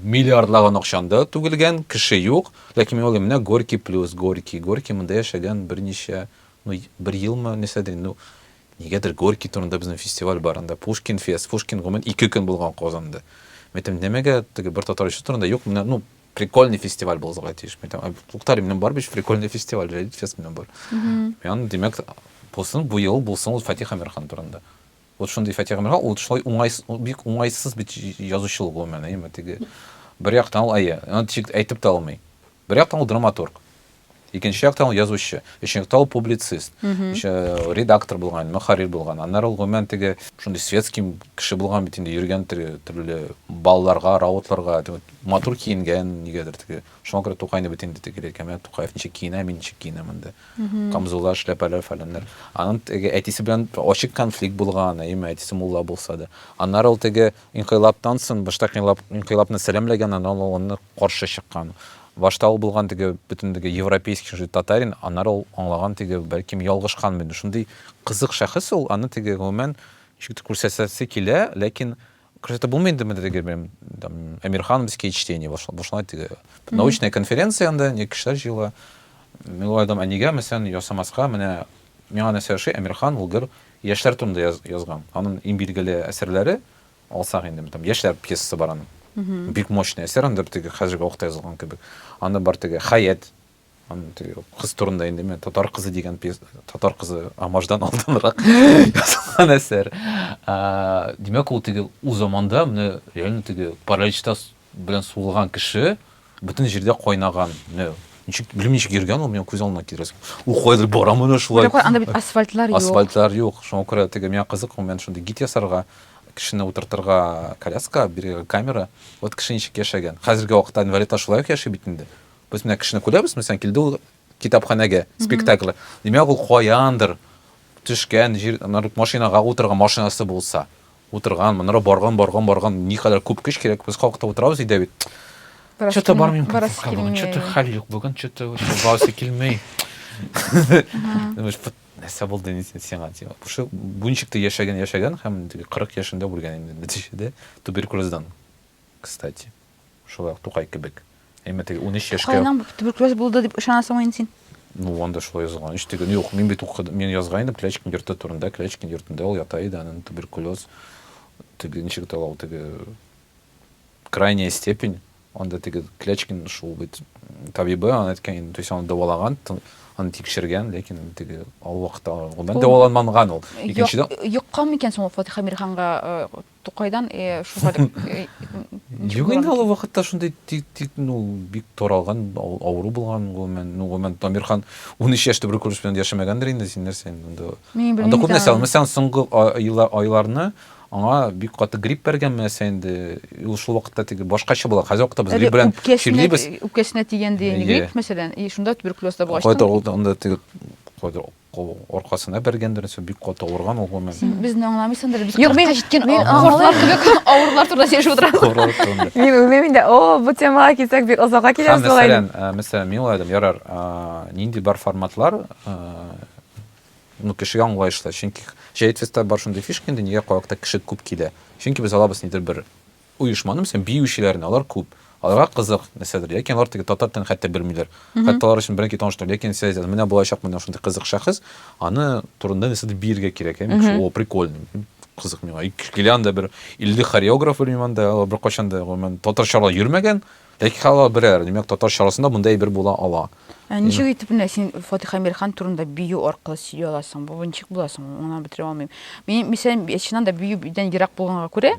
миллиардлаган акчанда түгелгән, кеше юк. Ләкин мин уйлыйм, менә Горький плюс, Горький, Горький монда яшәгән берничә, ну, бер елмы, нәрсә дим, ну, Нигәдер Горький турында безнең фестиваль бар анда, Пушкин фест, Пушкин гомумән ике көн булган Казанда. Мин әйтәм, нәмәгә теге бер татар җырчысы турында юк, менә, ну, прикольный фестиваль булырга тиеш. Мин әйтәм, туктале, минем бар бит прикольный фестиваль, Reddit фест минем бар. Ян, димәк, булсын бу ел, булсын ул Фатих Әмирхан турында. Вот шундый Фатих Әмирхан, ул шулай уңай, бик уңайсыз бит язучы ул гомумән, әйеме, теге. Бер яктан ул әйе, аны тик әйтеп тә алмый. Бер яктан ул драматург. Икенче яктан ул язучы. Өченче яктан ул публицист. Еще редактор булган, мөхәррир булган. Аннары ул гомумән теге шундый светский кеше булган бит инде, йөргән теге төрле балларга, раутларга, теге матур киенгән нигәдер теге. Шуңа күрә Тукайны бит инде теге әйткән, менә Тукаев ничек киенә, мин ничек киенәм инде. Камзуллар, шляпалар, фәләннәр. Аның теге әтисе белән ачык конфликт булган, әйеме, әтисе мулла булса да. Аннары ул теге Инкыйлабтан соң башта инкыйлабны сәламләгән, аннары ул аны каршы чыккан. Башта ул булган теге бөтен теге европейский шундый татарин, аннары ул аңлаган теге бәлкем ялгышкан бит. Шундый кызык шәхес ул, аны теге гомумән ничек тә күрсәтәсе килә, ләкин күрсәтеп булмый инде менә теге белән там Эмирхановские чтения башланды теге. Научная конференция анда, ни кешеләр җыела. Мин уйладым, ә нигә мәсәлән ясамаска, менә Миңа нәрсә ошый, Әмирхан ул гөр яшьләр турында язган. Анын иң билгеле әсәрләре, алсак инде, там Яшьләр пьесасы бар анын. Бик мощный әсәр, аны бер теге хәзерге вакытта язылган кебек. Анда бар теге Хәят, анын теге кыз турында инде, менә Татар кызы дигән пьеса, Татар кызы Амаждан алданрак язылган әсәр. Димәк, ул теге ул заманда менә реально теге паралич та белән сугылган кеше бөтен җирдә кайнаган. Не, ничек, белмим, ничек йөргән ул, миңа күз алдына килер. Ул кайдыр бара менә шулай. Бер анда бит асфальтлар юк. Асфальтлар юк. Шуңа күрә теге миңа кызык, мен шундый гид ясарга, кешене утыртырга коляска, бирергә камера. Вот кеше ничек яшәгән. Хәзерге вакытта инвалидлар шулай ук яши бит инде. Без менә кешене күрәбез, мәсәлән, килде ул китапханәгә, спектакль. Димәк, ул каяндыр төшкән, җир, машинага утырган, машинасы булса. Утырган, монара барган, барган, барган, никадәр күп көч кирәк, без калкытып утырабыз өйдә бит. Чөтә бармыйм, чөтә хәл юк, бүген чөтә барасы килмей. нәрсә булды инде сиңа дип шул буенчыкта яшәгән яшәгән һәм кырык яшендә үлгән инде нәтиҗәдә туберкулездан кстати Шулай ук Тукай кебек. Әмма теге унөч яшькә... Тукайның туберкулез булды дип ышанасыңмы инде син? Ну, анда шулай язылган. Ич теге, юк, мин бит укыдым, мин язган идем Клячкин йорты турында. Клячкин йортында ул ята иде, анын туберкулез, теге, ничек итә ул, теге, крайняя степень, анда теге Клячкин шул бит табибы, аны әйткән инде, то есть аны дәвалаган, аны тикшергән, ләкин теге ал вакытта ул дәваланманган ул. Икенчедән... Йоккан микән соң ул Фатиха Мирханга э, Тукайдан шуга Юк инде ул вакытта шундый тик тик ну бик таралган авыру булган гомумән ну гомумән Тамирхан 13 яшь туберкулез белән яшәмәгәндер инде син нәрсә инде анда күп нәрсә мәсәлән соңгы айларны аңа бик каты грипп бәргән нәрсә инде ул шул вакытта теге башкача була хәзер вакытта без грипп белән чирлибез үпкәсенә тигән дигән грипп мәсәлән и шунда туберкулез да булгач кайда ул анда теге кайда Кул аркасына бәргәндер, нәрсә, бик каты авырган ул, гомумән. Син безне аңламыйсыңдыр, без Юк, мин- кырыкка җиткән мин а- аңлыйм. кортлар кебек авырлар турында сөйләшеп утырабыз. Авырлар турында. Мин үзем инде, о, бу темага килсәк, бик озакка Һәм киләбез була инде. мәсәлән, ә, мәсәлән, мин уйладым, ярар, а, нинди бар форматлар, а, ну, кешегә аңлаешлы. Чөнки Җәет фестиваль бар шундый фишка инде, нигә калакта кеше күп килә? Чөнки без алабыз нидер бер Оешманы, мәсәлән, биючеләрне, алар күп, аларга кызык нәрсәдер, яки алар теге татар телен хәтта белмиләр, хәтта алар өчен беренче таныштыру, ләкин сез әйтәсез, менә булачак менә шундый кызык шәхес, аны турында нәрсәдер биергә кирәк, яки шул, о, прикольный, кызык миңа, килә анда бер 50 хореограф, белмим, анда алар беркайчан да, гомумән, татарча ала йөрмәгән, Ләкин халал берәр, димәк, татарча арасында мондый әйбер була ала. Ә ничек итеп менә син Фатих Әмирхан турында бию аркылы сөйли аласың? Бу ничек була соң? Мин аны бетерә алмыйм. Мин, мисәлән, чыннан да биюдән ерак булганга күрә,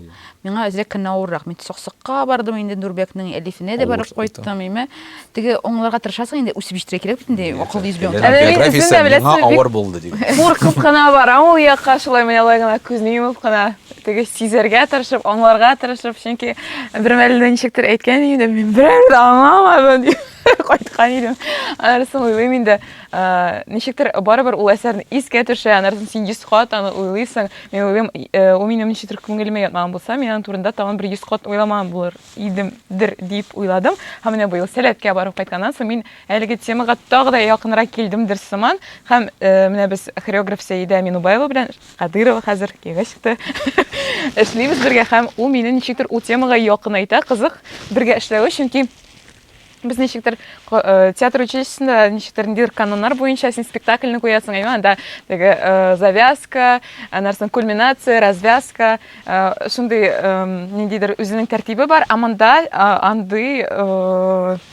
миңа әзрәк кенә авыррак. Мин Саксыкка бардым инде, Нурбәкнең Әлифенә дә барып кайттым, әйме. Теге аңларга тырышасың инде, үсеп җитәргә кирәк бит инде, акыллы йөз белән. Әнә мин үзем дә беләсең. Миңа авыр булды, диде. Куркып кына барам ул якка, шулай менә алай гына күзне йомып кына. Теге сизәргә тырышып, аңларга тырышып, чөнки бермәлне ничектер әйткән идем, мин берәр дә аңламадым дип кайткан идем. Аннарысын уйлыйм инде, ничектер барыбер ул әсәрне искә төшә, аннарысын син 100 кат аны уйлыйсың. Мин уйлыйм, ул минем ничектер күңелемә ятмаган булса, мин аның турында тагын бер 100 кат уйламаган булыр идем дер дип уйладым. Һәм менә быел Сәләткә барып кайтканнан соң мин әлеге темага тагы да якынрак килдемдер сыман. Һәм менә без хореограф Сәидә Минубаева белән Кадырова хәзер киңгә чыкты. Эшлибез бергә һәм ул мине ничектер ул темага якынайта, кызык бергә эшләве, чөнки без ничектер э, театр училищесында ничектер ниндидер каноннар буенча син спектакльны куясың әйме анда теге э, завязка анарсын кульминация развязка э, шундый ниндидер үзенең тәртибе бар ә монда андый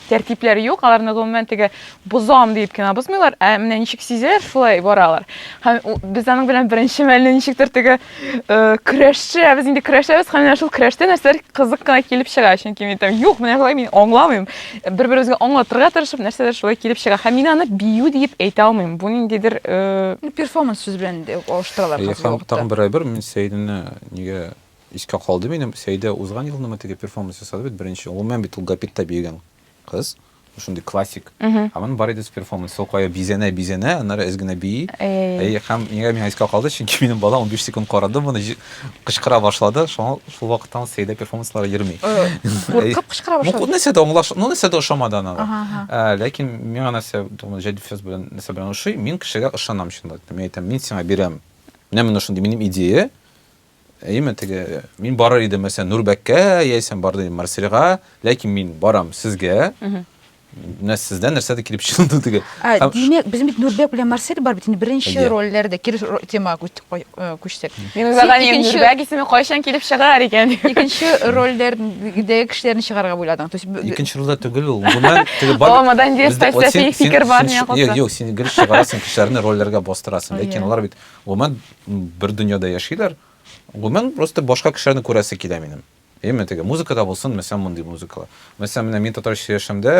тәртипләре юк, аларны гомумән теге бозам диеп кенә бозмыйлар, ә менә ничек сизәләр, шулай баралар. Һәм без аның белән беренче мәлне ничектер теге э, көрәшче, ә без инде көрәшәбез, һәм менә шул көрәштә нәрсәләр кызык кына килеп чыга, чөнки мин там юк, менә шулай мин аңламыйм. Бер-беребезгә аңлатырга тырышып, нәрсәләр шулай килеп чыга. Һәм мин аны бию диеп әйтә алмыйм. Бу ниндидер э, ну, перформанс сүз белән алыштыралар. Һәм тагын бер әйбер, мин Сәйдинне нигә Искә калды минем, Сәидә узган елны мы теге перформанс ясады бит беренче, гомумән бит ул гапитта биегән кыз, шундый классик, һәм аның бар иде с перформансы, ул кая бизәнә, бизәнә, аннары әз генә бии, әйе, һәм нигә миңа искә калды, чөнки минем балам унбиш секунд карады моны, җи, кычкыра башлады, шуңа шул вакыттан ул Сәидә перформансларга йөрми. Куркып кычкыра башлады? Ну, нәрсә дә аңлаш, ну, нәрсә дә ошамады ана. Ә, ләкин миңа нәрсә, тумы, җәдит фест белән нәрсә белән ошый, мин кешегә ышанам чынлап әйтәм, мин әйтәм, мин сиңа бирәм, менә менә шундый минем идея, Әйеме, теге мин барыр идем, мәсәлән, Нурбәккә яисә барды идем Марсельга, ләкин мин барам сезгә. Менә сездән нәрсәдер килеп чыгылды теге. Димәк, без бит Нурбәк белән Марсель бар бит инде беренче рольләрдә кирис темага күчтек. Мин үзәгә Нурбәк исеме кайчан килеп чыгар икән? Икенче рольләрдәге кешеләрне чыгарга уйладың. То есть икенче рольдә түгел ул. Моннан теге бар. Ул модан директор фикер бар миңа калса. Юк, юк, син гел чыгарасың кешеләрне рольләргә бастырасың, ләкин алар бит Гомумән, бер дөньяда яшиләр. Гомумән, просто башка кешеләрне күрәсе килә минем. Әйеме, теге музыкада булсын, мәсәлән, мондый музыкала. Мәсәлән, менә мин татар яшәмдә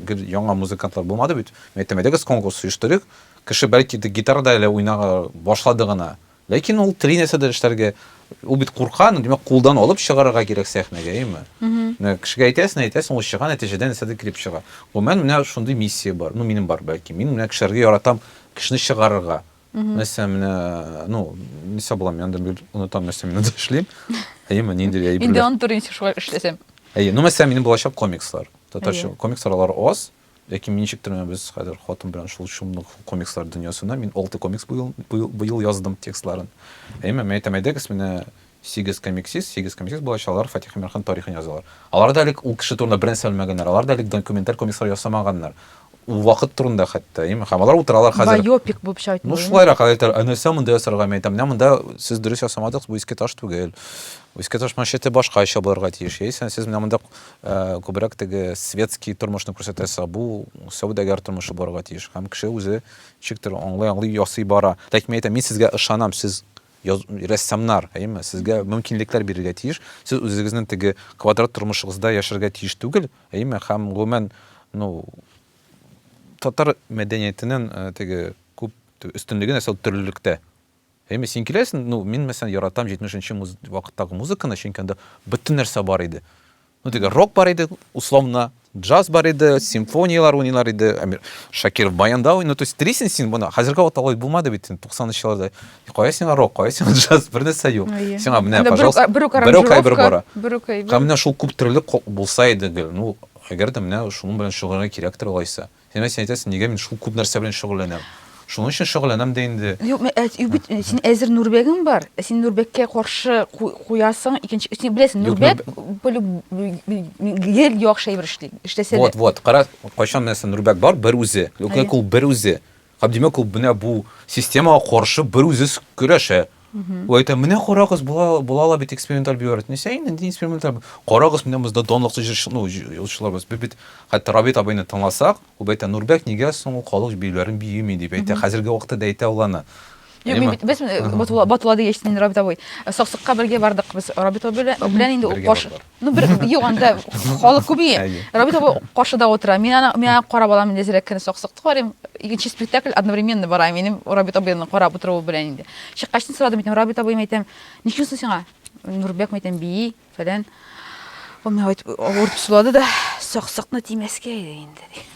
гел яңа музыкантлар булмады бит. Мин әйтәм, әйдәгез конкурс оештырыйк. Кеше бәлки инде гитарада әле уйнарга башлады гына. Ләкин ул тели нәрсәдер эшләргә. Ул бит курка, ну, димәк, кулдан алып чыгарырга кирәк сәхнәгә, әйеме? Менә кешегә әйтәсең, әйтәсең, ул чыга, нәтиҗәдә нәрсәдер килеп чыга. Гомумән, менә шундый миссия бар. Ну, минем бар, бәлки. Мин менә кешеләргә яратам, кешене чыгарырга. Угу. Нәрсә менә, ну, не саблам, янда бир онытам нәрсә менә эшлим. Әйе, менә нинди әйе. Инде онтыр инде шулай эшләсәм. Әйе, ну, мәсәлән, минем булачак комикслар. Татарча комикслар алар аз. Ләкин мин ничектер менә без хәзер хатын белән шул шумлык комикслар дөньясына мин алты комикс быел, быел, быел яздым текстларын. Әйе, мен әйтәм, әйдәгез менә Сигез комиксист, сигез комиксист балачалар Фатих Иминхан тарихын язалар. Алар да элек ул кеше турында бернәрсә белмәгәннәр, алар да элек документаль комикслар ясамаганнар, ул вакыт турында хәтта, им, һәм алар утыралар хәзер. Байопик булып чайтмый. Ну, шулайрак, алар әйтәләр, ә нәрсә монда ясарга? Мин әйтәм, менә монда сез дөрес ясамадыгыз, бу Иске таш түгел. Бу Иске таш маншеты башкача булырга тиеш, яисә сез менә монда күбрәк теге светский тормышны күрсәтәсез, ә бу сәүдәгәр тормышы булырга тиеш. Һәм кеше үзе ничектер аңлый-аңлый ясый бара. Ләкин мин әйтәм, мин сезгә ышанам, сез Яз, рәссамнар, әйеме, сезгә мөмкинлекләр бирергә тиеш. Сез үзегезнең теге квадрат тормышыгызда яшәргә тиеш түгел, әйеме, һәм гомумән, ну, татар мәдәниятенең э, теге күп өстенлеге нәрсә ул төрлелектә. Әйеме, син киләсең, ну, мин мәсәлән яратам 70 нче муз... вакыттагы музыканы, чөнки анда бөтен нәрсә бар иде. Ну теге рок бар иде, условно, джаз бар иде, симфониялар уйныйлар иде, Әмир Шакиров баянда уйный, то есть телисең син моны, хәзерге вакытта алай булмады бит, 90-нчы елларда. Кая сиңа рок, кая сиңа джаз, бер нәрсә юк. Сиңа менә, пожалуйста, бер үк әйбер бара. Бер үк әйбер. Менә шул күп төрле булса иде гел. Ну, әгәр дә менә шуның белән шөгыльләнергә кирәктер алайса. Димәк, син әйтәсең, нигә мин шул күп нәрсә белән шөгыльләнәм? Шуның өчен шөгыльләнәм дә инде. Юк, мен, әз, юк бит, син әзер Нурбәгең бар. Ә син Нурбәккә каршы ку- куясың, икенче, син беләсең, Юк, Нурбәк полю- гел яхшы әйбер эшли, эшләсә дә. Вот, вот, кара, кайчан менә син Нурбәк бар, бер үзе. Әйе. Димәк, ул бер үзе. Һәм, димәк, ул менә бу системага каршы бер үзе с- көрәшә. Ул әйтә, менә карагыз, була, була ала бит эксперименталь биорит. Не сәй, нинди эксперименталь. Карагыз, менә бездә данлыклы җырчы, ну, җырчылар без. Без бит хәтта Рабит абыйны тыңласак, ул әйтә, Нурбәк нигә соң ул халык биюләрен биеми дип әйтә. Хәзерге вакытта да әйтә ул аны. Юк, мин бит без Батула, Батула дигәч, син Рабит абый. Саксыкка бергә бардык без Рабит абый белән инде ул баш. Ну, бер юк анда халык күп ие. Рабит абый каршыда утыра. Мин аны мин аны карап алам инде зирәк кенә саксыкты карыйм. Икенче спектакль одновременно бара. Минем Рабит абыйны карап утыру белән инде. Чыккачны сорадым итем. Рабит абый мәйтәм, ничек соң сиңа? Нурбек мәйтәм бии, фәлән. Ул миңа әйтеп, авыртып сулады да, саксыкны тимәскә иде инде.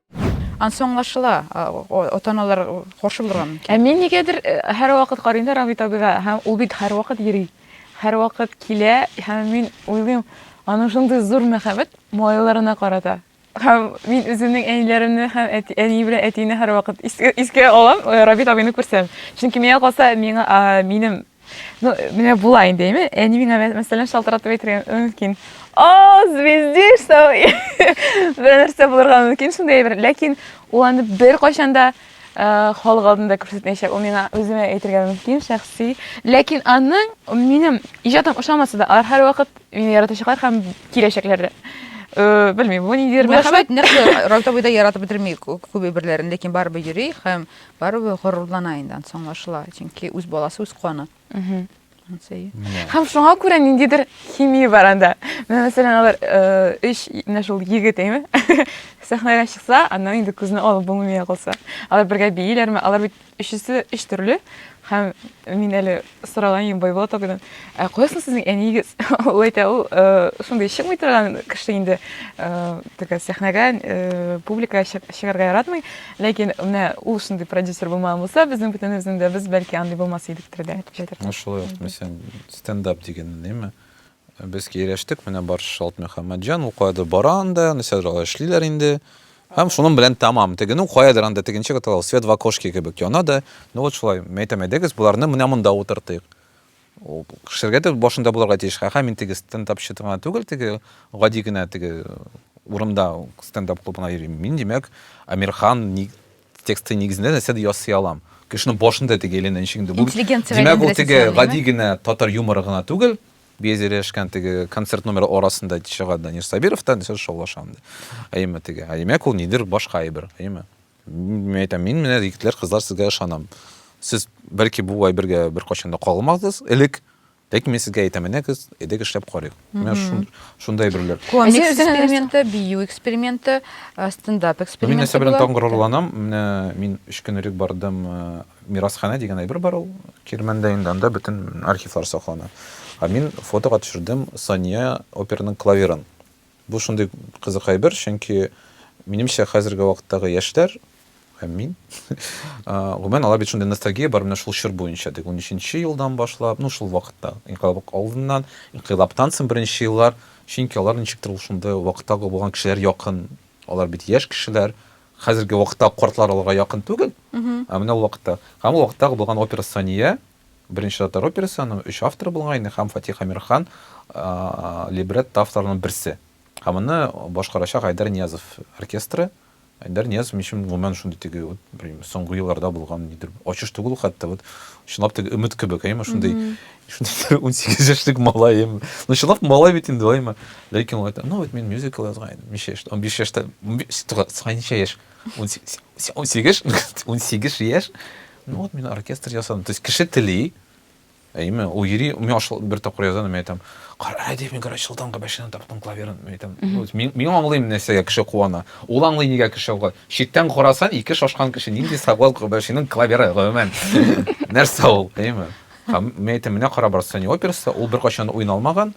Ансы аңлашыла, ата-аналар каршы булырга мөмкин. Ә мин нигәдер һәрвакыт карыйм да Рамит абыйга, һәм ул бит һәрвакыт йөри. Һәрвакыт килә, һәм мин уйлыйм, аның шундый зур мәхәббәт малайларына карата. Һәм мин үземнең әниләремне һәм әти, әни белән әтине һәрвакыт искә, искә алам, Рамит абыйны күрсәм. Чөнки миңа калса, миңа, минем Ну, менә була инде, әйме? Әни миңа мәсәлән шалтыратып әйтергә мөмкин. О, звездиш, там бер нәрсә булырга мөмкин шундый әйбер. Ләкин ул аны бер кайчан да э, халык алдында күрсәтмәячәк. Ул миңа үземә әйтергә мөмкин, шәхси. Ләкин аның минем иҗатым ошамаса да, алар һәрвакыт мине яратачаклар һәм киләчәкләр дә. Э, Белмим, бу ниндидер Бу мәхәббәт. мәхәббәт нәрсә Райта буйда яратып бетерми кү- күп әйберләрен, ләкин барыбер йөри һәм Барыбер горурлана инде, ансы аңлашыла. Чөнки үз баласы, үз каны. Һәм шуңа күрә ниндидер химия бар анда. Менә мәсәлән, алар өч менә шул егет, әйме? Сәхнәгә чыкса, аннан инде күзне алып булмый калса. Алар бергә бииләрме? Алар бит өчесе өч төрле. Һәм мин әле сораган идем Байболат абыйдан, ә кая соң сезнең әниегез? Ул әйтә, ул шундый чыкмый торган кеше инде, теге сәхнәгә, публикага чыгарга яратмый, ләкин менә ул шундый продюсер булмаган булса, безнең бөтенебезнең дә без бәлки андый булмас идек тирдә, дип әйтә. Шулай ук, мәсәлән, стендап дигән, әйеме? Без киерәштек, менә бар Шалт Мөхәммәтҗан укады, бара анда, нисәдер алар эшлиләр инде. Һәм шуның белән тамам. Тегенү каядыр анда тегенче каталау, свет в окошке кебек яна да. Ну вот шулай, мәйтәм, әйдәгез, боларны менә монда утыртыйк. Кешеләргә дә башында булырга тиеш. Ха-ха, мин теге стендапчы гына түгел, теге гади генә теге урында стендап клубына йөрим. Мин, димәк, Әмирхан, ни, Тексты нигезендә нәрсә дә ясый алам. Кешенең башын да тегә әйләндерәнчек инде. Бу, димәк, ул теге гади генә татар юморы гына түгел. Без ирешкән теге концерт номеры арасында чыга Данир Сабиров та нәрсә шаулашам ди. Әйеме теге. Димәк, ул нидер башка әйбер, әйеме? Мин әйтәм, мин менә егетләр, кызлар сезгә ышанам. Сез бәлки бу әйбергә беркайчан да кагылмадыгыз элек, Ләкин мин сезгә әйтәм, менә без эдек эшләп карыйк. Менә шундай берләр. Комик эксперименты, бию эксперименты, стендап эксперименты. Мин нәрсә белән тагын горурланам, менә мин өч көн элек бардым, мирасханә дигән әйбер бар ул, Кирмәндә инде анда бөтен архивлар саклана. Ә мин фотога төшердем Сания операның клаверын. Бу шундый кызык әйбер, чөнки минемчә хәзерге вакыттагы яшьләр һәм мин, гомумән, алар бит шундый ностальгия бар менә шул чор буенча, теге унөченче елдан башлап, ну шул вакытта, инкыйлаб алдыннан, инкыйлабтан соң беренче еллар, чөнки алар ничектер ул шундый вакытта булган кешеләр якын, алар бит яшь кешеләр, хәзерге вакытта картлар аларга якын түгел, ә менә ул вакытта, һәм ул вакыттагы булган опера Сания, Беренче татар операсы, аның өч авторы булган инде һәм Фатих Әмирхан либретто авторларының берсе. Һәм моны башкарачак Айдар Ниязов оркестры. Айдар Ниязов минем өчен гомумән шундый теге вот белмим, соңгы елларда булган нидер ачыш түгел ул хәтта вот чынлап теге өмет кебек, әйме шундый шундый 18 яшьлек малай әйме. Ну чынлап малай бит инде әйме. Ләкин ул әйтә, ну вот мин мюзикл язган идем, ничә яшьтә, 15 яшьтә, 15 яшь, 18 18 яшь, Ну вот мин оркестр ясадым. То есть кеше тели, әйме, ул йөри, мин ашыл, бер тапкыр язам, мин әйтәм, кара, әйдә, мин гараж шылдан габәшенә таптым клаверын, мин әйтәм, мин, мин аңлыйм нәрсәгә кеше куана. Ул аңлый нигә кеше куана. Читтән карасан, ике шашкан кеше нинди сабал габәшенең клаверы, гомумән. Нәрсә ул, әйме? Һәм мин әйтәм, менә кара Барсани операсы, ул беркайчан уйналмаган.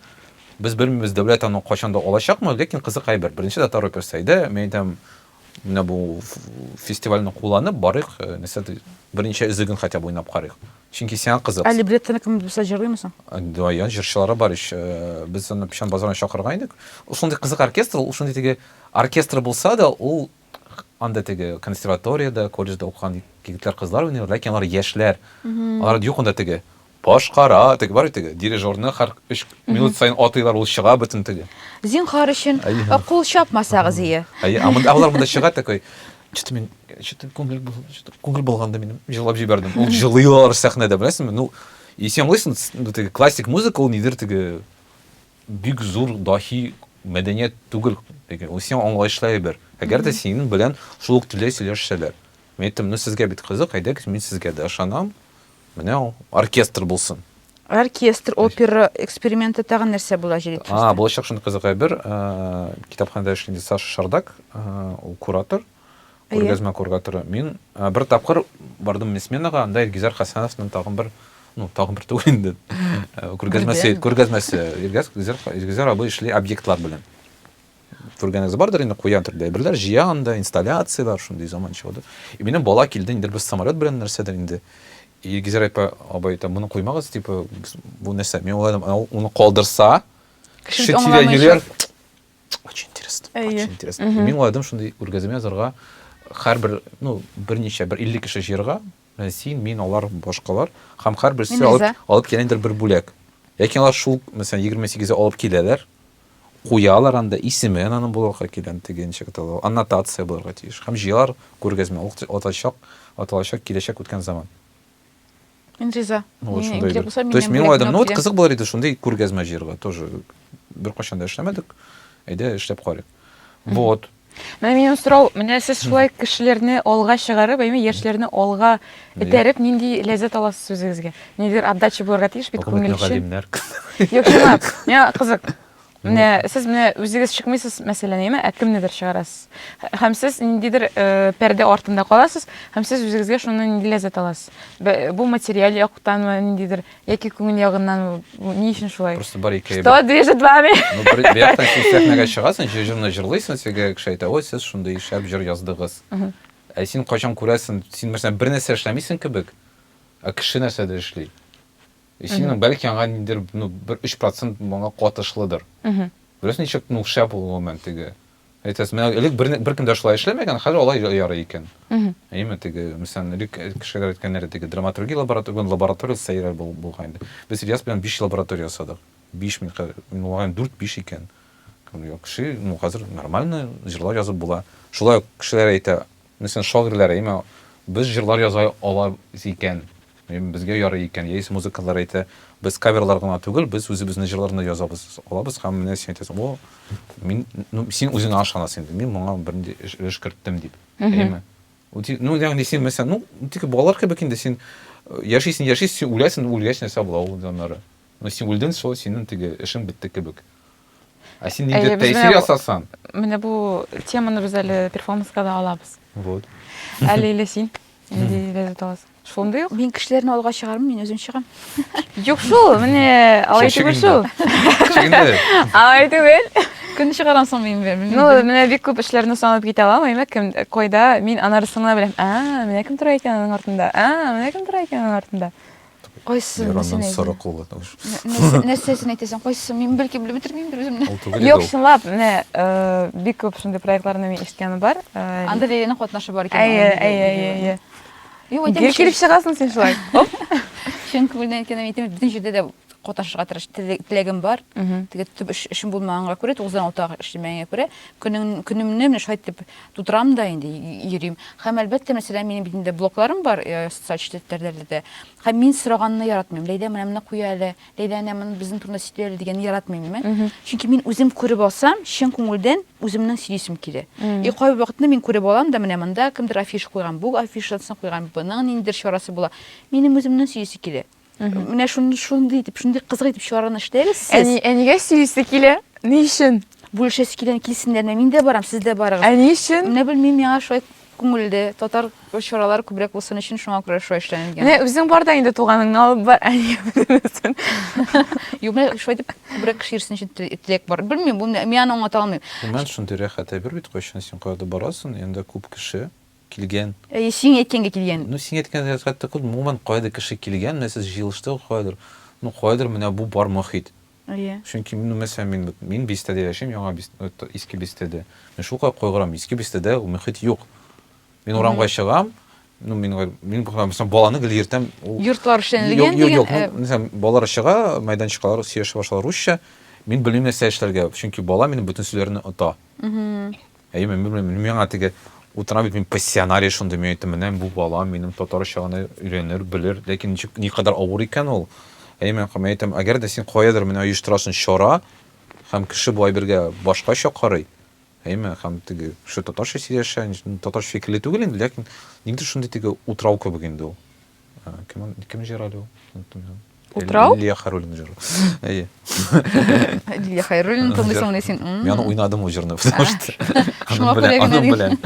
Без белмибез, дәүләт аны кайчан да алачакмы, ләкин кызык әйбер. Беренче татар операсы иде, мин әйтәм, Менә бу фестивальне кулланып барыйк, нәрсә ди, берничә өзеген хотя бы уйнап карыйк. Чөнки сиңа кызык. Ә либреттоны кем булса җырлыймы соң? Даян җырчылары бар ич. Без аны печән базарына чакырган идек. Ул шундый кызык оркестр, ул шундый теге оркестр булса да, ул анда теге консерваториядә, колледжда укыган егетләр, кызлар уйныйлар, ләкин алар яшьләр. Алар юк анда теге Башкара, теге бар бит теге, дирижерны 43 минут саен атыйлар, ул чыга бөтен теге. Зинхар өчен, кул чапмасагыз ие. Әйе, алар монда чыга такой, что-то мин, что-то күңел булды, что-то күңел булганды минем, җылап җибәрдем. Ул җылый алар сәхнәдә, беләсеңме? Ну, и син аңлыйсың, ну, теге классик музыка ул нидер теге бик зур дахи мәдәният түгел, теге ул син аңлаешлы әйбер. Әгәр дә синең белән шул ук телдә сөйләшсәләр. Мин әйттем, ну, сезгә бит кызык, әйдәгез, мин сезгә дә ышанам. Менә ул, оркестр булсын. Оркестр, опера эксперименты тагын нәрсә була җиде төстә? А, булачак шундый кызык әйбер. Китапханәдә эшли инде Саша Шардак, ул куратор, күргәзмә кураторы. Мин бер тапкыр бардым мин сменага, анда Илгизәр Хәсәновның тагын бер, ну, тагын бер түгел инде. Күргәзмәсе, күргәзмәсе. Илгизәр абый эшли объектлар белән. Күргәнегез бардыр инде, куян төрдә әйберләр җыя анда, инсталляцияләр, шундый заманча да. И минем бала килде, инде бер самолет белән нәрсәдер инде. И Гизер апа, абай әйтә, моны куймагыз, типа, бу нәрсә? Мин уйладым, уны калдырса, кеше тирә йөрер. Очень интересно, очень интересно. Мин уйладым, шундый үргәземә язарга, һәрбер, ну, берничә, бер 50 кеше җыярга, Менә син, мин, алар, башкалар һәм һәрберсе алып килә ниндидер бер бүләк. Ләкин алар шул, мәсәлән, егерме сигезне алып киләләр, куялар анда, исеме аның булырга кирәк, теге ничек атала ул, аннотация булырга тиеш. Һәм җыялар күргәзмә, ул атачак, аталачак киләчәк үткән заман. Мин риза. Вот Мин шундый кирәк бер. булса, То есть минем мин бүләкне уйладым, ну алып вот киләм. кызык булыр иде шундый күргәзмә җыярга тоже. Беркайчан да эшләмәдек, әйдә эшләп карыйк. Вот. Менә минем сорау, менә сез шулай кешеләрне алга чыгарып, әйме, яшьләрне алга этәреп, нинди ләззәт аласыз үзегезгә? Нидер отдача булырга тиеш бит күңел өчен. Юк, чынлап, миңа кызык. Менә сез менә үзегез чыкмыйсыз, мәсәлән, әйме, ә кемнедер чыгарасыз. Һәм сез ниндидер э, пәрдә артында каласыз, һәм сез үзегезгә шуннан нинди ләззәт аласыз. Бу материаль яктанмы, ниндидер Яки күңел ягыннан ни өчен шулай? Просто бар ике. Что движет вами? Ну, бер яктан син сәхнәгә чыгасың, җыр җырны җырлыйсың, сезгә кеше әйтә, ой, сез шундый шәп җыр яздыгыз. Ә син кайчан күрәсең, син мәсәлән бер нәрсә эшләмисең кебек, ә кеше нәрсәдер эшли. И синең бәлки аңа ниндидер, ну, бер 3% моңа катышлыдыр. Беләсең ничек, ну, шәп ул гомумән теге. Әйтәсез, менә элек бер, беркем дә шулай эшләмәгән, хәзер алай ярый икән. Әйме, теге, мәсәлән, элек кешеләр әйткәннәре теге драматургия лаборатория, лаборатория сәйрәр булган инде. Без Ильяс белән 5 лаборатория ясадык. 5 мин хәзер, мөгаен 4-5 икән. Кеше, ну хәзер нормально җырлар язып була. Шулай ук кешеләр әйтә, Мисен шагыйрьләр әйме, без җырлар яза алабыз икән, безгә ярый икән, яисә музыкантлар әйтә, без каверлар гына түгел, без үзебезнең җырларны да яза алабыз, һәм менә син әйтәсең, о, мин, ну, син үзеңә ышанасың инде, мин моңа бернинди өлеш керттем дип, әйме. Ну, ягъни син, мәсәлән, ну, тик балалар кебек инде, син яшисең, яшисең, син үләсең, үлгәч нәрсә була ул, аннары? Ну син үлден шул, синен теге эшең бетте кебек. Ә син нинди Әйе, без тәэсир менә бу- ясасан? Менә бу теманы без әле перформанска да алабыз. Вот. Әле или син нинди ләззәт аласың? Шундый ук. Мин кешеләрне алга чыгармын, мин үзем чыгам. Юк шул, менә алай Шул түгел шул. шигенде. Шигенде. Алай түгел. Көн чыгарам соң мин бер. Ну, менә бик күп эшләрне санап китә алам, әйме, кем, кайда, мин анарысын гына беләм. А, менә кем тора икән аның артында. А, менә кем тора икән аның артында. Кайсы нәрсәне әйтәсең? Соры кулы. Нәрсәсен әйтәсең? Кайсы? Мин бәлки белеп бетермим бер үземне. Юк, чынлап, менә э, бик күп шундый проектларны мин ишеткәне бар. Э, Анда Лилиянең катнашы бар икән. Әйе, әйе, әйе, әйе. Юк, әйтәм. Гел килеп чыгасың син шулай. Оп. Чын күңелдән әйткәнем әйтәм, бөтен җирдә дә катнашырга тырыш теләгем бар. Теге төп эшем булмаганга күрә, 9-6 эшләмәгәнгә күрә, көнемне менә шулай итеп Тутырам да инде, йөрим. Һәм, әлбәттә, мәсәлән, минем бит инде блокларым бар э, социаль челтәрләрдә дә. Һәм мин сораганны яратмыйм. Ләйдә менә моны куя әле, Ләйдә әнә моны безнең турында сөйли әле дигәнне яратмыйм мен. Чөнки мин үзем күреп алсам, чын күңелдән үземнең сөйлисем килә. И кайбер вакытны мин күреп алам да, менә монда кемдер афиша куйган, бу афишасын куйган, буның ниндидер чарасы була. Минем үземнең сөйлисе килә. Менә шундый шундый итеп, шундый кызык итеп чыгарган эшләгез сез. Әни, әнигә сөйлисе килә. Ни өчен? Бүлешәсе килгән килсеннәр, мин дә барам, сез дә барыгыз. Әни өчен? Менә белмим, миңа шулай күңелле. Татар чаралары күбрәк булсын өчен шуңа күрә шулай эшләнгән. Менә үзең бар да инде туганыңны алып бар, әнигә бөтенесен. Юк, менә шулай итеп күбрәк кеше йөрсен өчен теләк бар. Белмим, бу мин аны аңлата алмыйм. Гомумән, шундый рәхәт әйбер бит, кайчан син каядыр барасың, янда күп кеше. килгән. Әйе, сиң әйткәнгә килгән. Ну, сиң әйткән хәкыйкатьтә кыз, гомумән, каядыр кеше килгән, менә сез җыелыштыгыз каядыр, ну, каядыр менә бу бар мохит. Әйе. Чөнки, ну, мәсәлән, мин, вот, мин Бистәдә яшим, Яңа Бист, вот, Иске Бистәдә. Мин шулкадәр кайгырам, Иске Бистәдә мохит юк. Мин урамга чыгам, ну, мин, мин, мәсәлән, баланы гел йөртәм, ул. Йортлар эшләнелгән дигән. Юк, юк, мәсәлән, балалар чыга, мәйданчыкалар сөйләшә башлар русча, мин белмим нәрсә эшләргә, чөнки бала минем бөтен сүзләрне ота. Әйе, мин белмим, мин миңа теге утыра бит мин пассионария шундый, мин әйттем, менә бу бала минем татарча гына өйрәнер, белер, ләкин ничек, никадәр авыр икән ул. Әйе, мин мин әйтәм, әгәр дә син каядыр менә оештырасың чара, һәм кеше бу әйбергә башкача карый, әйеме, һәм теге кеше татарча сөйләшә, татарча фикерле түгел инде, ләкин никтер шундый теге утрау кебек инде ул. Кем, кем җырады ул? Оныттым мин. Утрау? Лилия Харулина җыры. Әйе. Лилия Хайруллина тыңлыйсың менә син. Мин аны уйнадым ул җырны, потому что Шуңа күрә генә аның белән.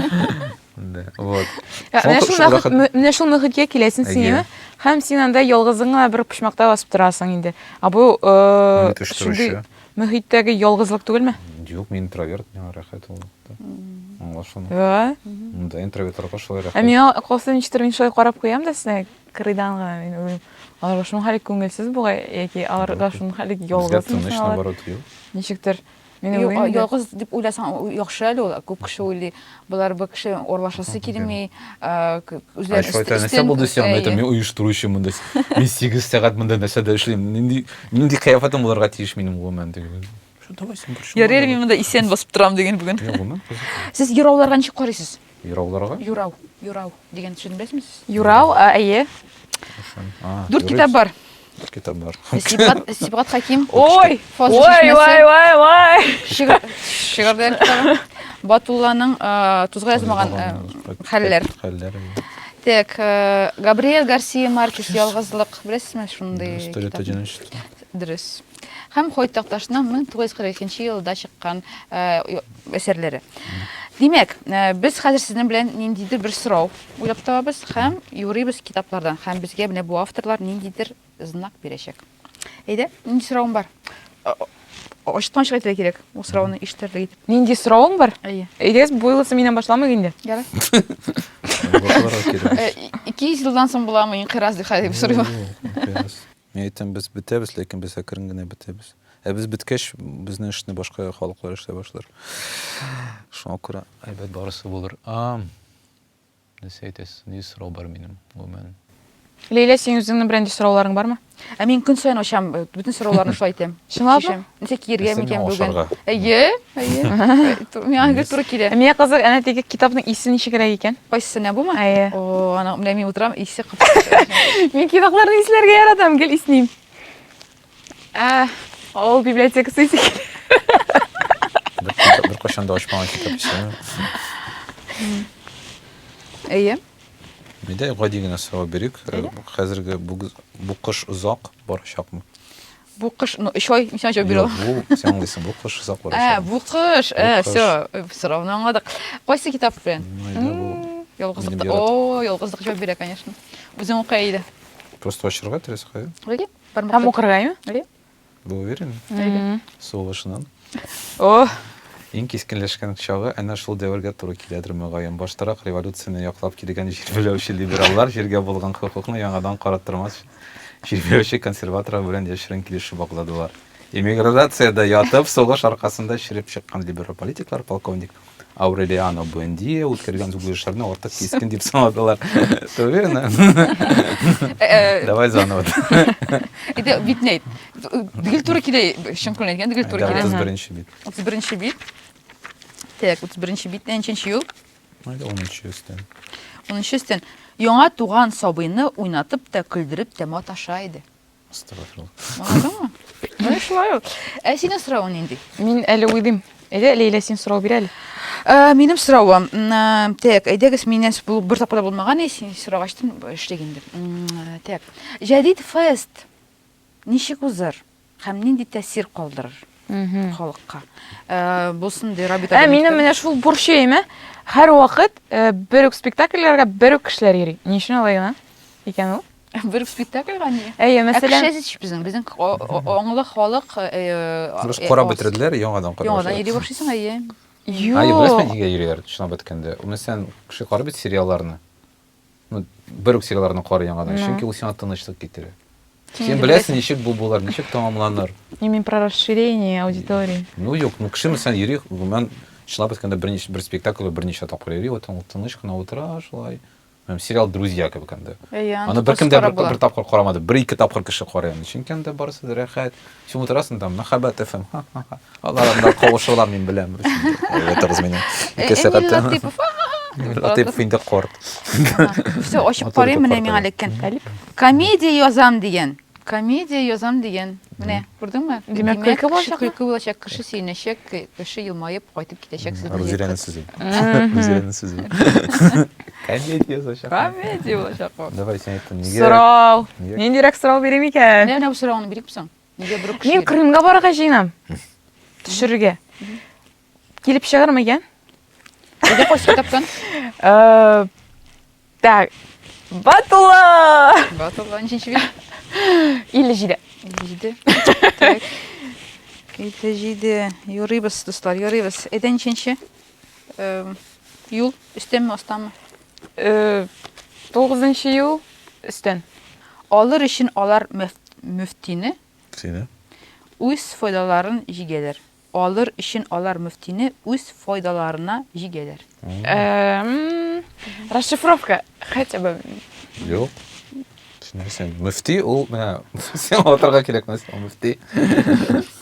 Да, вот. Менә шул мөхиткә киләсең син, һәм син анда ялгызыңа бер почмакта басып торасың инде. А бу э шундый мөхиттәге ялгызлык түгелме? Юк, мин интроверт, миңа рәхәт ул. Аңла шуны. Ва? Монда интровертарга шулай рәхәт. Ә миңа акылсыз ничектер мин шулай карап куям да синә кырыйдан гына мин үзем. Аларга шуның хәле күңелсез бугай яки аларга шуның хәле ялгыз. Тыныч наоборот юк. Ничектер Мин уйлыйм. Ялгыз дип уйласаң яхшы әле ул. Күп кеше уйлый. Болар бу кеше орлашасы килми. Үзләре эшләп. Шулай нәрсә булды сиңа? Мин әйтәм, мин оештыручы монда. Мин 8 сәгать монда нәрсәдә эшлим. Нинди нинди кыяфәтем булырга тиеш минем гомумән дип. Шо, давай син күрші. Ярый әле мин монда исән басып торам диген бүген. Йә, гомер кызык. Сез юрауларга ничек карыйсыз? Юрауларга? Юрау, юрау дигән сүзне беләсезме сез? Юрау, а, әйе. Шын. А, Дүрт юрый. китап бар. Дүрт китап бар. Сибгат, Сибгат Хаким. Ой! Фазыл Ой, чишмәсе. ой, ой, ой! Шигырь, шигырьләр китабы. Батулланың э, тузга язмаган э, хәлләр. Хәлләр. әйе. Так, э, Габриэль Гарсия Маркес Ялгызлык. Беләсезме шундый? История китапны? одиночества. Дөрес. Һәм Хойт Такташның 1942 елда чыккан әсәрләре. Димәк, без хәзер сезнең белән ниндидер бер сорау уйлап табабыз һәм юрыйбыз китаплардан. Һәм безгә менә бу авторлар ниндидер знак бирәчәк. Әйдә, нинди соравың бар? Ачыктан ачык әйтергә кирәк, ул сорауны ишетерлек итеп. Нинди соравың бар? Әйе. Әйдәгез, бу юлысы миннән башламыйк инде. Ярый. Икейөз елдан соң буламы инкыйраз дип хәзер сорыйм. Мин әйтәм, без бетәбез, ләкин без әкрен генә бетәбез. Ә без беткәч, безнең эшне башка халыклар эшләп башлар. Шуңа күрә әйбәт барысы булыр. А, нәрсә әйтәсез? Ни сорау бар минем, гомумән? Ләйлә, синең үзеңнең берәнди сорауларың бармы? Ә мин көн саен ачам, бөтен сорауларны шулай итәм. Чынлапмы? Нәрсә киергә микән бүген? Әйе. Әйе. Миңа гел туры килә. Миңа кызык, әнә теге китапның исе ничегрәк икән? Кайсы нә бума? Әйе. О, аны менә мин утырам, исе кыпты. Мин китапларны исләргә яратам, гел исним. Ә, авыл библиотекасы исе килә. Бер кашан да ачмаган китап исе. Әйе. Мидә гади генә сорау бирик. Хәзерге бу кыш озак барачакмы? Бу кыш, ну, өч ай, ничә җо бирә? Юк, бу, сен аңлыйсың, бу кыш озак бара. Ә, бу кыш, ә, все, сорауны аңладык. Кайсы китап белән? Ялгызлык. О, ялгызлык җо бирә, конечно. Үзең укый иде. Просто ачырга тирәсе кая? Әйе. Һәм укырга, әйе? Әйе. Бу уверен? Әйе. Сугышынан. О, Иң кискенләшкән чагы әнә шул дәвергә туры киләдер мөгаен. Баштарак революцияне яклап килгән җирбеләүче либераллар җиргә булган хокукны яңадан караттырмас өчен Чиркәүче консерваторлар белән яшерен килешү багладылар. Эмиграциядә ятып, сугыш аркасында череп чыккан либерал политиклар полковник Аурелиано Буэндия үткәргән зугышларны артык кискен дип санадылар. Ты уверена? Э, Давай заново. Иде битней. Дигел туры килә, чын күңелдән әйткән, дигел туры Да, килә. 31 бит. 31 бит. Так, 31 бит, ничәнче юл? Әле унынчы өстән. Унынчы өстән. Яңа туган сабыйны уйнатып та, көлдереп тә маташа иде. Астагфирулла. Аңладыңмы? Менә шулай ул. Ә синең соравың нинди? Мин әле уйлыйм. Әйдә, Ләйлә, син сорау бир әле. Ә, минем соравым. Ә, Так, әйдәгез, миннән бу бер тапкыр да булмаган, и, син сорагачтын, эшлик инде. М, Так. Җәдит фест ничек узыр? Һәм нинди тәэсир калдырыр халыкка? Бу шундый Рабита. Ә минем менә шул борчыйм, ә? Һәр вакыт бер үк спектакльләргә бер үк кешеләр йөри. Ни өчен алай гына икән ул? Бер үк спектакльгә ни? Әйе, мәсәлән. Ә кеше безнең, безнең аңлы халык. Карап бетерделәр, яңадан карап. Яңадан йөри башлыйсың, әйе. Юк. Әйе, беләсең, нигә йөриләр, чынлап әйткәндә? Ул мәсәлән, кеше карап бит сериалларны. Ну, бер үк сигараларны кар яңадан, ну. чөнки ул сиңа тынычлык китерә. Син беләсең, ничек бу булыр, ничек тәмамланыр. Не мин про расширение аудитории. Ну, юк, ну, кеше мәсәлән йөри, гомумән, чынлап әйткәндә, бер, бер спектакль берничә тапкыр йөри, вот ул тыныч кына утыра, шулай. Һәм сериал Друзья кебек инде. Аны беркем дә бер, бер тапкыр карамады, бер-ике тапкыр кеше карый аны. Чөнки анда барысы да рәхәт, Син утырасың там, мәхәббәт FM. Ха-ха-ха. Алар анда кавышырга мин беләм. Ятырыз менә. Э, Ике сәгать. Эмиль Латыпов. Эмиль Латыпов инде корт. Все, ачып карыйм, менә миңа эләккән. Комедия язам дигән. Комедия язам дигән. Менә, күрдеңме? Димәк, көлке булачак. Көлке булачак, кеше сөенәчәк, кеше елмаеп кайтып китәчәк сезне. Рузирәнең сүзе. Рузирәнең сүзе. Комедия булачак. Комедия булачак бу. Давай син әйт, нигә? Сорау. Нигә? Ниндирәк сорау бирим икән? Менә бу сорауны бирик соң. Нигә бер кеше? Мин Крымга барырга җыенам. Төшерергә. Килеп чыгармы икән? Нигә пост китапкан? Э, Так. Батула! Батулла ниченче бит? 57. 57. Так. 57. Юрыйбыз, дуслар, юрыйбыз. Әйдә ниченче? Юл өстәнме, астамы? Тугызынчы юл өстән. Алыр өчен алар мөфтине. Сине. Үз файдаларын җигәләр. Алыр өчен алар мөфтине үз файдаларына җигәләр. Расшифровка хотя бы. Юк. Син нәрсә? Мөфти ул менә син алатырга кирәкмәс, мөфти.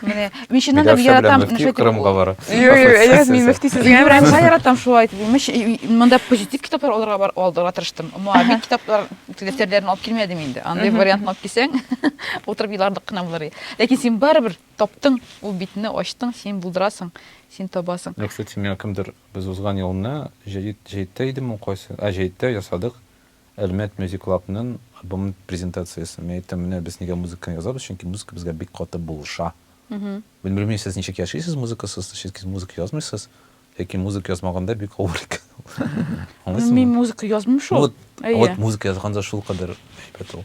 Менә мин чыннан да яратам. Мөфти Кырымга бара. Юк, юк, әйдәгез, мин мөфти сезгә барам. Мин яратам шулай итеп. Имеш, монда позитив китаплар алырга бар, алдыга тырыштым. Муавин китаплар, дәфтәрләрен алып килмәдем инде. Андый вариантны алып килсәң, утырып елардык кына булыр иде. Ләкин син барыбер таптың, ул битне ачтың, син булдырасың, син табасың. Юк, кстати, миңа кемдер без узган елны җәйдә идеме, кайсы? А, җәйдә ясадык. Әлмәт Мьюзик Клабнын альбомын презентациясе. Мин әйттем, менә без нигә музыканы язабыз, чөнки музыка безгә бик каты булыша. Мин белмим сез ничек яшисез музыкасыз, чөнки музыка язмыйсыз, ләкин музыка язмаганда бик авыр икән ул. Аңлыйсызмы? Мин музыка язмыйм шул. Вот музыка язганда шулкадәр әйбәт ул.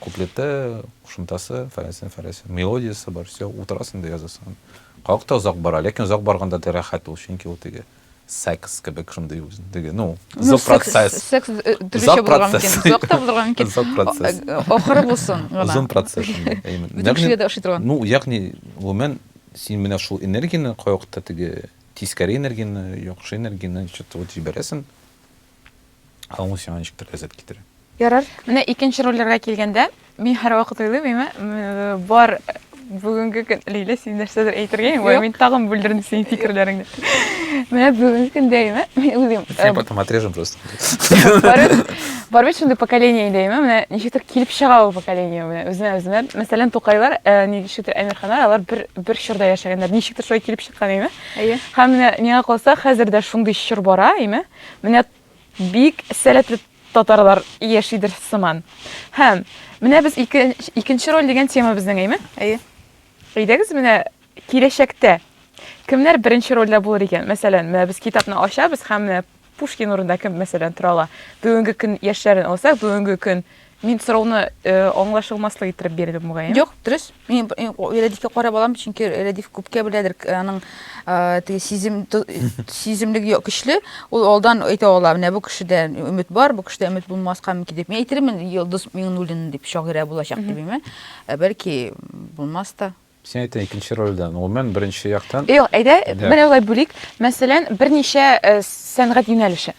Куплеты, кушымтасы, фәләнсен, фәләсен, мелодиясе бар, все, утырасың да язасың аны. Как та озак бара, ләкин озак барганда да рәхәт ул, чөнки ул теге секс кебек шундый үзен, теге, ну, ну озак процесс. Секс э, төрлечә булырга мөмкин, озак та булырга мөмкин. Озак процесс. Э, э, ахыры булсын гына. Озын процесс. Бөтен кешегә дә ошый торган. Ну, ягъни, гомумән, син менә шул энергияне кайвакытта теге тискәре энергияне, яхшы энергияне что-то вот җибәрәсең. Аңу сиңа ничектер ләззәт китерә. Ярар. Менә икенче рольләргә килгәндә, мин һәрвакыт уйлыйм, әйме, бар бүгенге көн Лилә син нәрсәдер әйтергә аңлый, мин тагын бүлдердем синең фикерләреңне. Менә бүгенге көндә әйме, мин уйлыйм. Я потом отрежем просто. Бар бит шундый поколение инде, әйме, менә ничектер килеп чыга ул поколение менә үзенә-үзенә. Мәсәлән, Тукайлар, ничектер Әмирханнар, алар бер бер чорда яшәгәннәр. Ничектер шулай килеп чыккан, әйме. Әйе. Һәм менә миңа калса, хәзер дә шундый чор бара, әйме. Менә бик сәләтле татарлар яшидер сыман. Һәм менә без ике, икенче роль дигән тема безнең, әйме? Әйе. Әйдәгез менә киләчәктә кемнәр беренче рольдә булыр икән? Мәсәлән, менә без китапны ачабыз һәм менә Пушкин урында кем мәсәлән тора ала? Бүгенге көн яшьләрен алсак, бүгенге көн Мин сорауны аңлашылмаслык иттереп бирдем, мөгаен. Юк, дөрес. Мин Рәдифкә карап алам, чөнки Рәдиф күпкә беләдер, аның теге сизем сиземлеге көчле, ул алдан әйтә ала, менә бу кешедә өмет бар, бу кешедә өмет булмаска мөмкин дип. Мин әйтермен, Йолдыз Миңнуллина дип шагыйрә булачак дип, әмма бәлки булмас та. Син әйттең икенче рольдә, гомумән, беренче яктан. Юк, әйдә, менә болай бүлик. Мәсәлән, берничә сәнгать юнәлеше.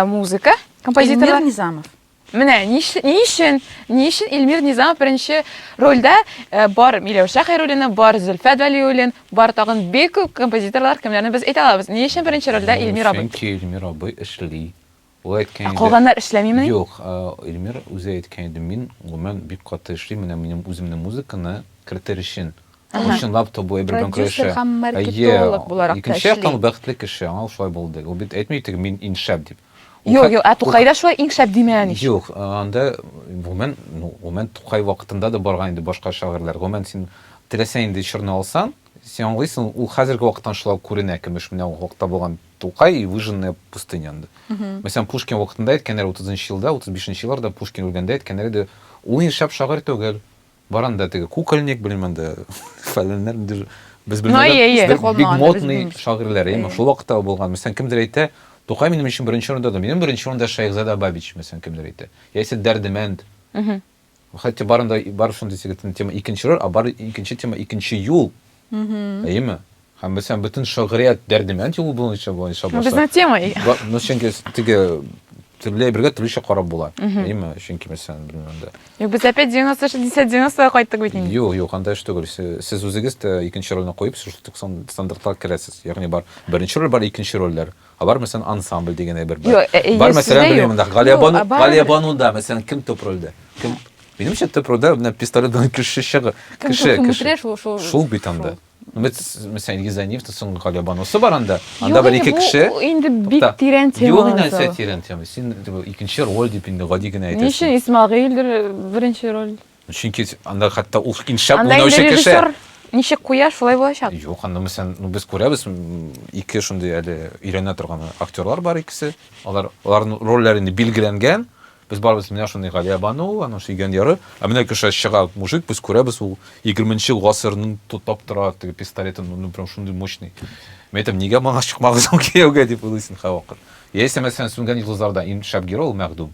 Музыка, композитор. Илмир Низамов. Менә ни өчен, ни өчен Илмир Низамов беренче рольдә, бар Миләүшә Хәйруллина, бар Зөлфәт Вәлиуллин, бар тагын бик күп композиторлар, кемнәрне без әйтә алабыз. Ни өчен беренче рольдә Илмир абый? Чөнки Илмир абый эшли. Ул әйткән иде. Ә калганнар эшләмимени? Юк, Илмир үзе әйткән иде, мин гомумән бик каты эшлим, менә минем үземнең музыканы кертер өчен. Ул чынлап та бу әйбер белән көрәшә. Продюсер һәм маркетолог буларак та эшли. Икенче яктан, бәхетле кеше, аңа шулай булды. Ул бит әйтми теге мин иң шәп дип. Юк, юк, ә Тукайда шулай иң шәп димәгән ич. Юк, анда гомумән, ну, гомумән Тукай вакытында да барган инде башка шагыйрьләр. Гомумән син теләсә нинди чорны алсаң, син аңлыйсың, ул хәзерге вакыттан шулай күренә, көмеш менә ул вакытта булган Тукай и выжженная пустыня анда. Мәсәлән, Пушкин вакытында әйткәннәр 30 нчы елда, 35 нчы елларда Пушкин үлгәндә әйткәннәр иде, ул инде шәп шагыйрь түгел. Бар анда теге кукольник, белмим анда фәләннәр, инде без Ну, әйе, әйе. белмәгән, Калмаган бик да, без модный белмибез. шагыйрьләр, әйеме, Әйе. шул вакытта ул булган. Мәсәлән, кемдер әйтә, Тукай минем өчен беренче урында, да, минем беренче урында Шәехзада Бабич, мәсәлән, кемдер әйтә. Яисә Дәрдемәнд. Мгм. Хәтта барында бар шундый теге тема икенче роль, а бар икенче тема икенче юл. Әйеме? Һәм без һәм бөтен шагырият дәрдемәнд юлы буенча буенча башлар. Безнең тема. Ну, чөнки теге төрле бергә төрлечә карап була. Әйеме? Чөнки мәсәлән, белмәм дә. Юк, без опять 90 60 90 кайттык бит инде. Юк, юк, анда эш түгел. Сез үзегез дә икенче рольне куеп, шул стандартлар керәсез. Ягъни бар беренче роль, бар икенче рольләр. Ә бар мәсәлән ансамбль дигәндәй бер бер. Бар мәсәлән белмим монда. Галиябану, Галиябануда мәсәлән кем төп рольдә? Кем? Минемчә төп рольдә менә пистолетдан кеше чыгы, кеше, кеше. Шул бит анда. Мәсәлән, Илгиз Зәниевта соң Галиябанусы бар анда. Анда бер ике кеше. Инде бик тирән тема. Юк, инде нәрсә тирән тема. Син икенче роль дип инде гади генә әйтәсең. Ничә Исмагыйль беренче роль? Чөнки анда хәтта ул иң шәп Анда уйнаучы инде кеше. режиссер ничек куя, шулай булачак. Юк, анда мәсәлән, ну, без күрәбез, м, ике шундый әле өйрәнә торган актерлар бар икесе. Алар аларның рольләре инде билгеләнгән. Без барыбыз менә шундый Галия Бану, аның сөйгән яры. Ә менә кеше чыга мужик, без күрәбез, ул 20 ел гасырның тотап тора, теге пистолетын, ну, ну, прям шундый мощный. Мин әйтәм, нигә моңа чыкмагыз ул кияүгә дип уйлыйсың һәрвакыт. Яисә мәсәлән, Сүнгән йолдызларда иң шәп герой ул Мәгъдүм.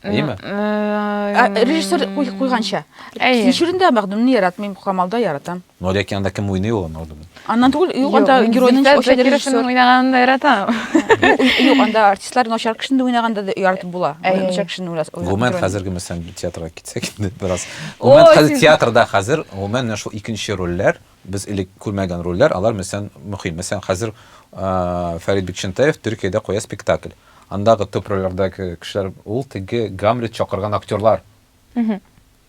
Әйеме? Ә, Режиссер куй- куйганча. Әйе. Кичүрендә мәгъдүмне яратмыйм, Камалда яратам. Но ләкин анда кем уйный ул Мәгъдүм? Аннан түгел, юк, анда Юк, геройның Зөлфәт оча Закировның режиссер. уйнаганын да яратам. Юк, Юк, анда артистлар начар кешене дә уйнаганда да яратып була. Әйе. Начар кешене уйлас. уйла- Гомумән геройны. хәзерге мәсәлән театрга китсәк инде бераз. Гомумән Ой, хәзер син- театрда хәзер гомумән менә шул икенче рольләр Без элек күрмәгән рольләр, алар мөсән мөхим. Мәсәлән, хәзер Фәрит Бикчәнтәев Төркиядә куя спектакль. Андагы төп рольләрдәге кешеләр ул теге Гамлет чакырган актерлар.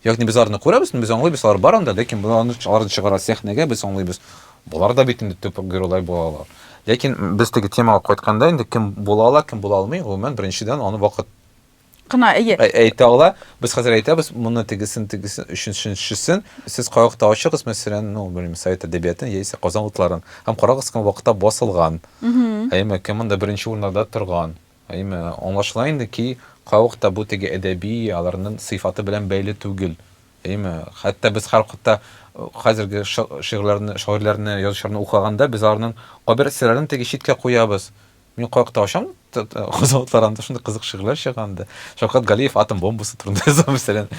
Ягъни без аларны күрәбез, без аңлыйбыз, алар бар анда, ләкин без аларны аларны чыгара сәхнәгә, без аңлыйбыз, болар да бит инде төп геройлар була алар. Ләкин без теге темага кайтканда, инде кем була ала, кем була алмый, гомумән, беренчедән, аны вакыт Кына, әйе. Ә, әйтә ала. Без хәзер әйтәбез, моны тегесен, тегесен, өченчесен. Сез кайвакыта ачыгыз, мәсәлән, ну, белмим, совет әдәбиятын яисә Казан утларын. Һәм карагыз, кем вакытта басылган. Әйме, кем монда беренче урыннарда торган. Әйме, аңлашыла инде ки, кайвакыта бу теге әдәби аларның сыйфаты белән бәйле түгел. Әйме, хәтта без һәрвакытта хәзерге шигырьләрне, шагыйрьләрне, язучыларны укыганда, без аларның кайбер әсәрләрен теге читкә куябыз. Мин кая кыта ачам, хозалыклар анда шундый кызык шигырьләр чыга анда. Шавкат Галиев атом бомбасы турында язган мәсәлән.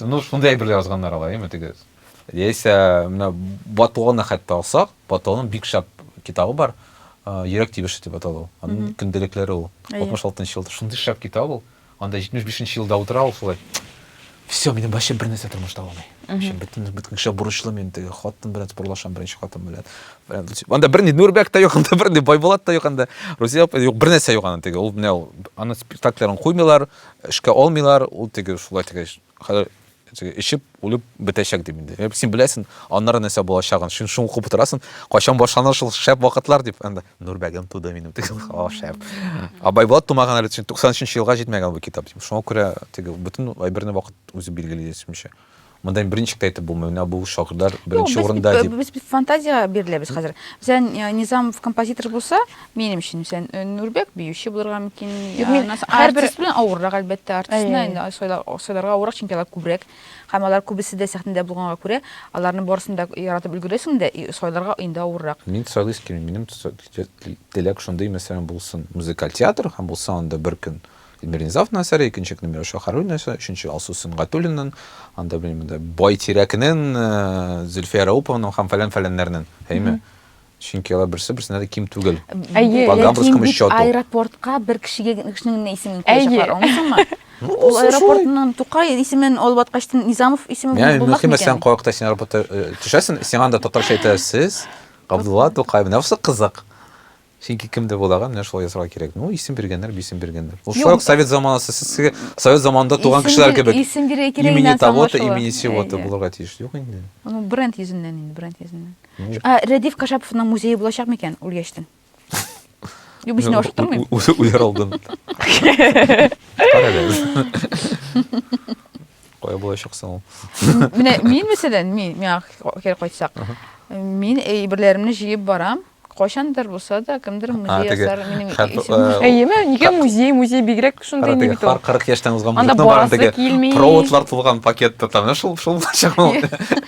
Ну, шундый әйберләр язганнар алар, яме теге. Яисә менә Батуаны хәтта алсак, Батуаның бик шәп китабы бар. Йөрәк тибеше дип аталу. Аның көнделекләре ул. 66 нчы елда шундый шәп китап ул. Анда 75 нче елда утыра ул шулай. Все, минем вообще бер нәрсә тормышта булмый. Вообще бөтен бөтен кеше бурычлы мин теге хатын белән спорлашам беренче хатын белән. Анда бер ни Нурбәк та юк, анда бер ни Байбулат та юк, анда Рузия апа юк, бер нәрсә юк анда теге. Ул менә ул аны спектакльләрен куймыйлар, эшкә алмыйлар, ул теге шулай теге. Хәзер Эчеп, үлеп бетәчәк дип инде. Әйб, син беләсен, аннары нәрсә булачагын, син шуны укып утырасың, кайчан башланыр шул шәп вакытлар дип. Анда Нурбәгем туды минем теге, о, шәп. А Байбулат тумаган әле, 90 нчы елга җитмәгән бу китап дип. Шуңа күрә теге бөтен әйберне вакыт үзе билгели дисемчә. Монда инде берничек тә әйтеп булмый, менә бу шагыйрьләр беренче урында дип. Без бит фантазиягә биреләбез хәзер. Мәсәлән, Низамов композитор булса, Минем өчен сен Нурбек биюче булырга мөмкин. Юк, мин һәрбер белән авыррак әлбәттә, артистны инде сойларга авыррак, чөнки алар күбрәк. Һәм алар күбесе дә сәхнәдә булганга күрә, аларны барысын да яратып өлгерәсең дә, и сойларга инде авыррак. Мин сойлыйсы килми, минем теләк шундый, мәсәлән, булсын музыкаль театр һәм булса анда бер көн Эльмира Низамовна әсәре, икенче көн Миләүшә Харуллина әсәре, өченче Алсу Сөнгатуллинан, анда белмим инде Бай Тирәкнен, Зөлфия Рәупованың һәм фәлән-фәләннәрнен, әйме? чөнки алар берсе берсенә дә ким түгел. Әйе, По гамбургскому ләкин счету. аэропортка бер кешегә кешенең генә исемен куячаклар, аңлыйсыңмы? Ну, Ул алса шулай. аэропортның Тукай исемен алып аткачтын Низамов исеме Менә булмак мөһиме сен микән? кайвакытта син аэропортта э, төшәсен, сиңа анда татарча әйтәләр, сез Габдулла Тукай. Менә бусы кызык. Чөнки кемдер буларга менә шулай язарга кирәк. Ну, исем биргәннәр, исем биргәннәр. Ул шулай ук совет заманасы, сез теге совет заманында туган Исем кешеләр бир- кебек. исем бирә кирәк Имени инде, того-то, аңлашыла. имени сего-то Әйе. булырга тиеш. Юк инде. Ну, бренд йөзеннән инде, бренд йөзеннән. Ә Рәдиф Кашаповның музее булачак микән үлгәчтен? Юк, мин сине ашыктырмыйм. Үзе үләр алдын. Карале. Кая булачак соң ул? Менә мин мәсәлән, мин миңа кире кайтсак, мин әйберләремне җыеп барам. Кайчандыр булса да кемдер музей ясар минем исемемне. Әйеме, нигә музей, музей бигрәк шундый инде бит ул. 40 яшьтән узган музыкны барам теге. Проводлар тулган пакетта там, шул шул булачак ул.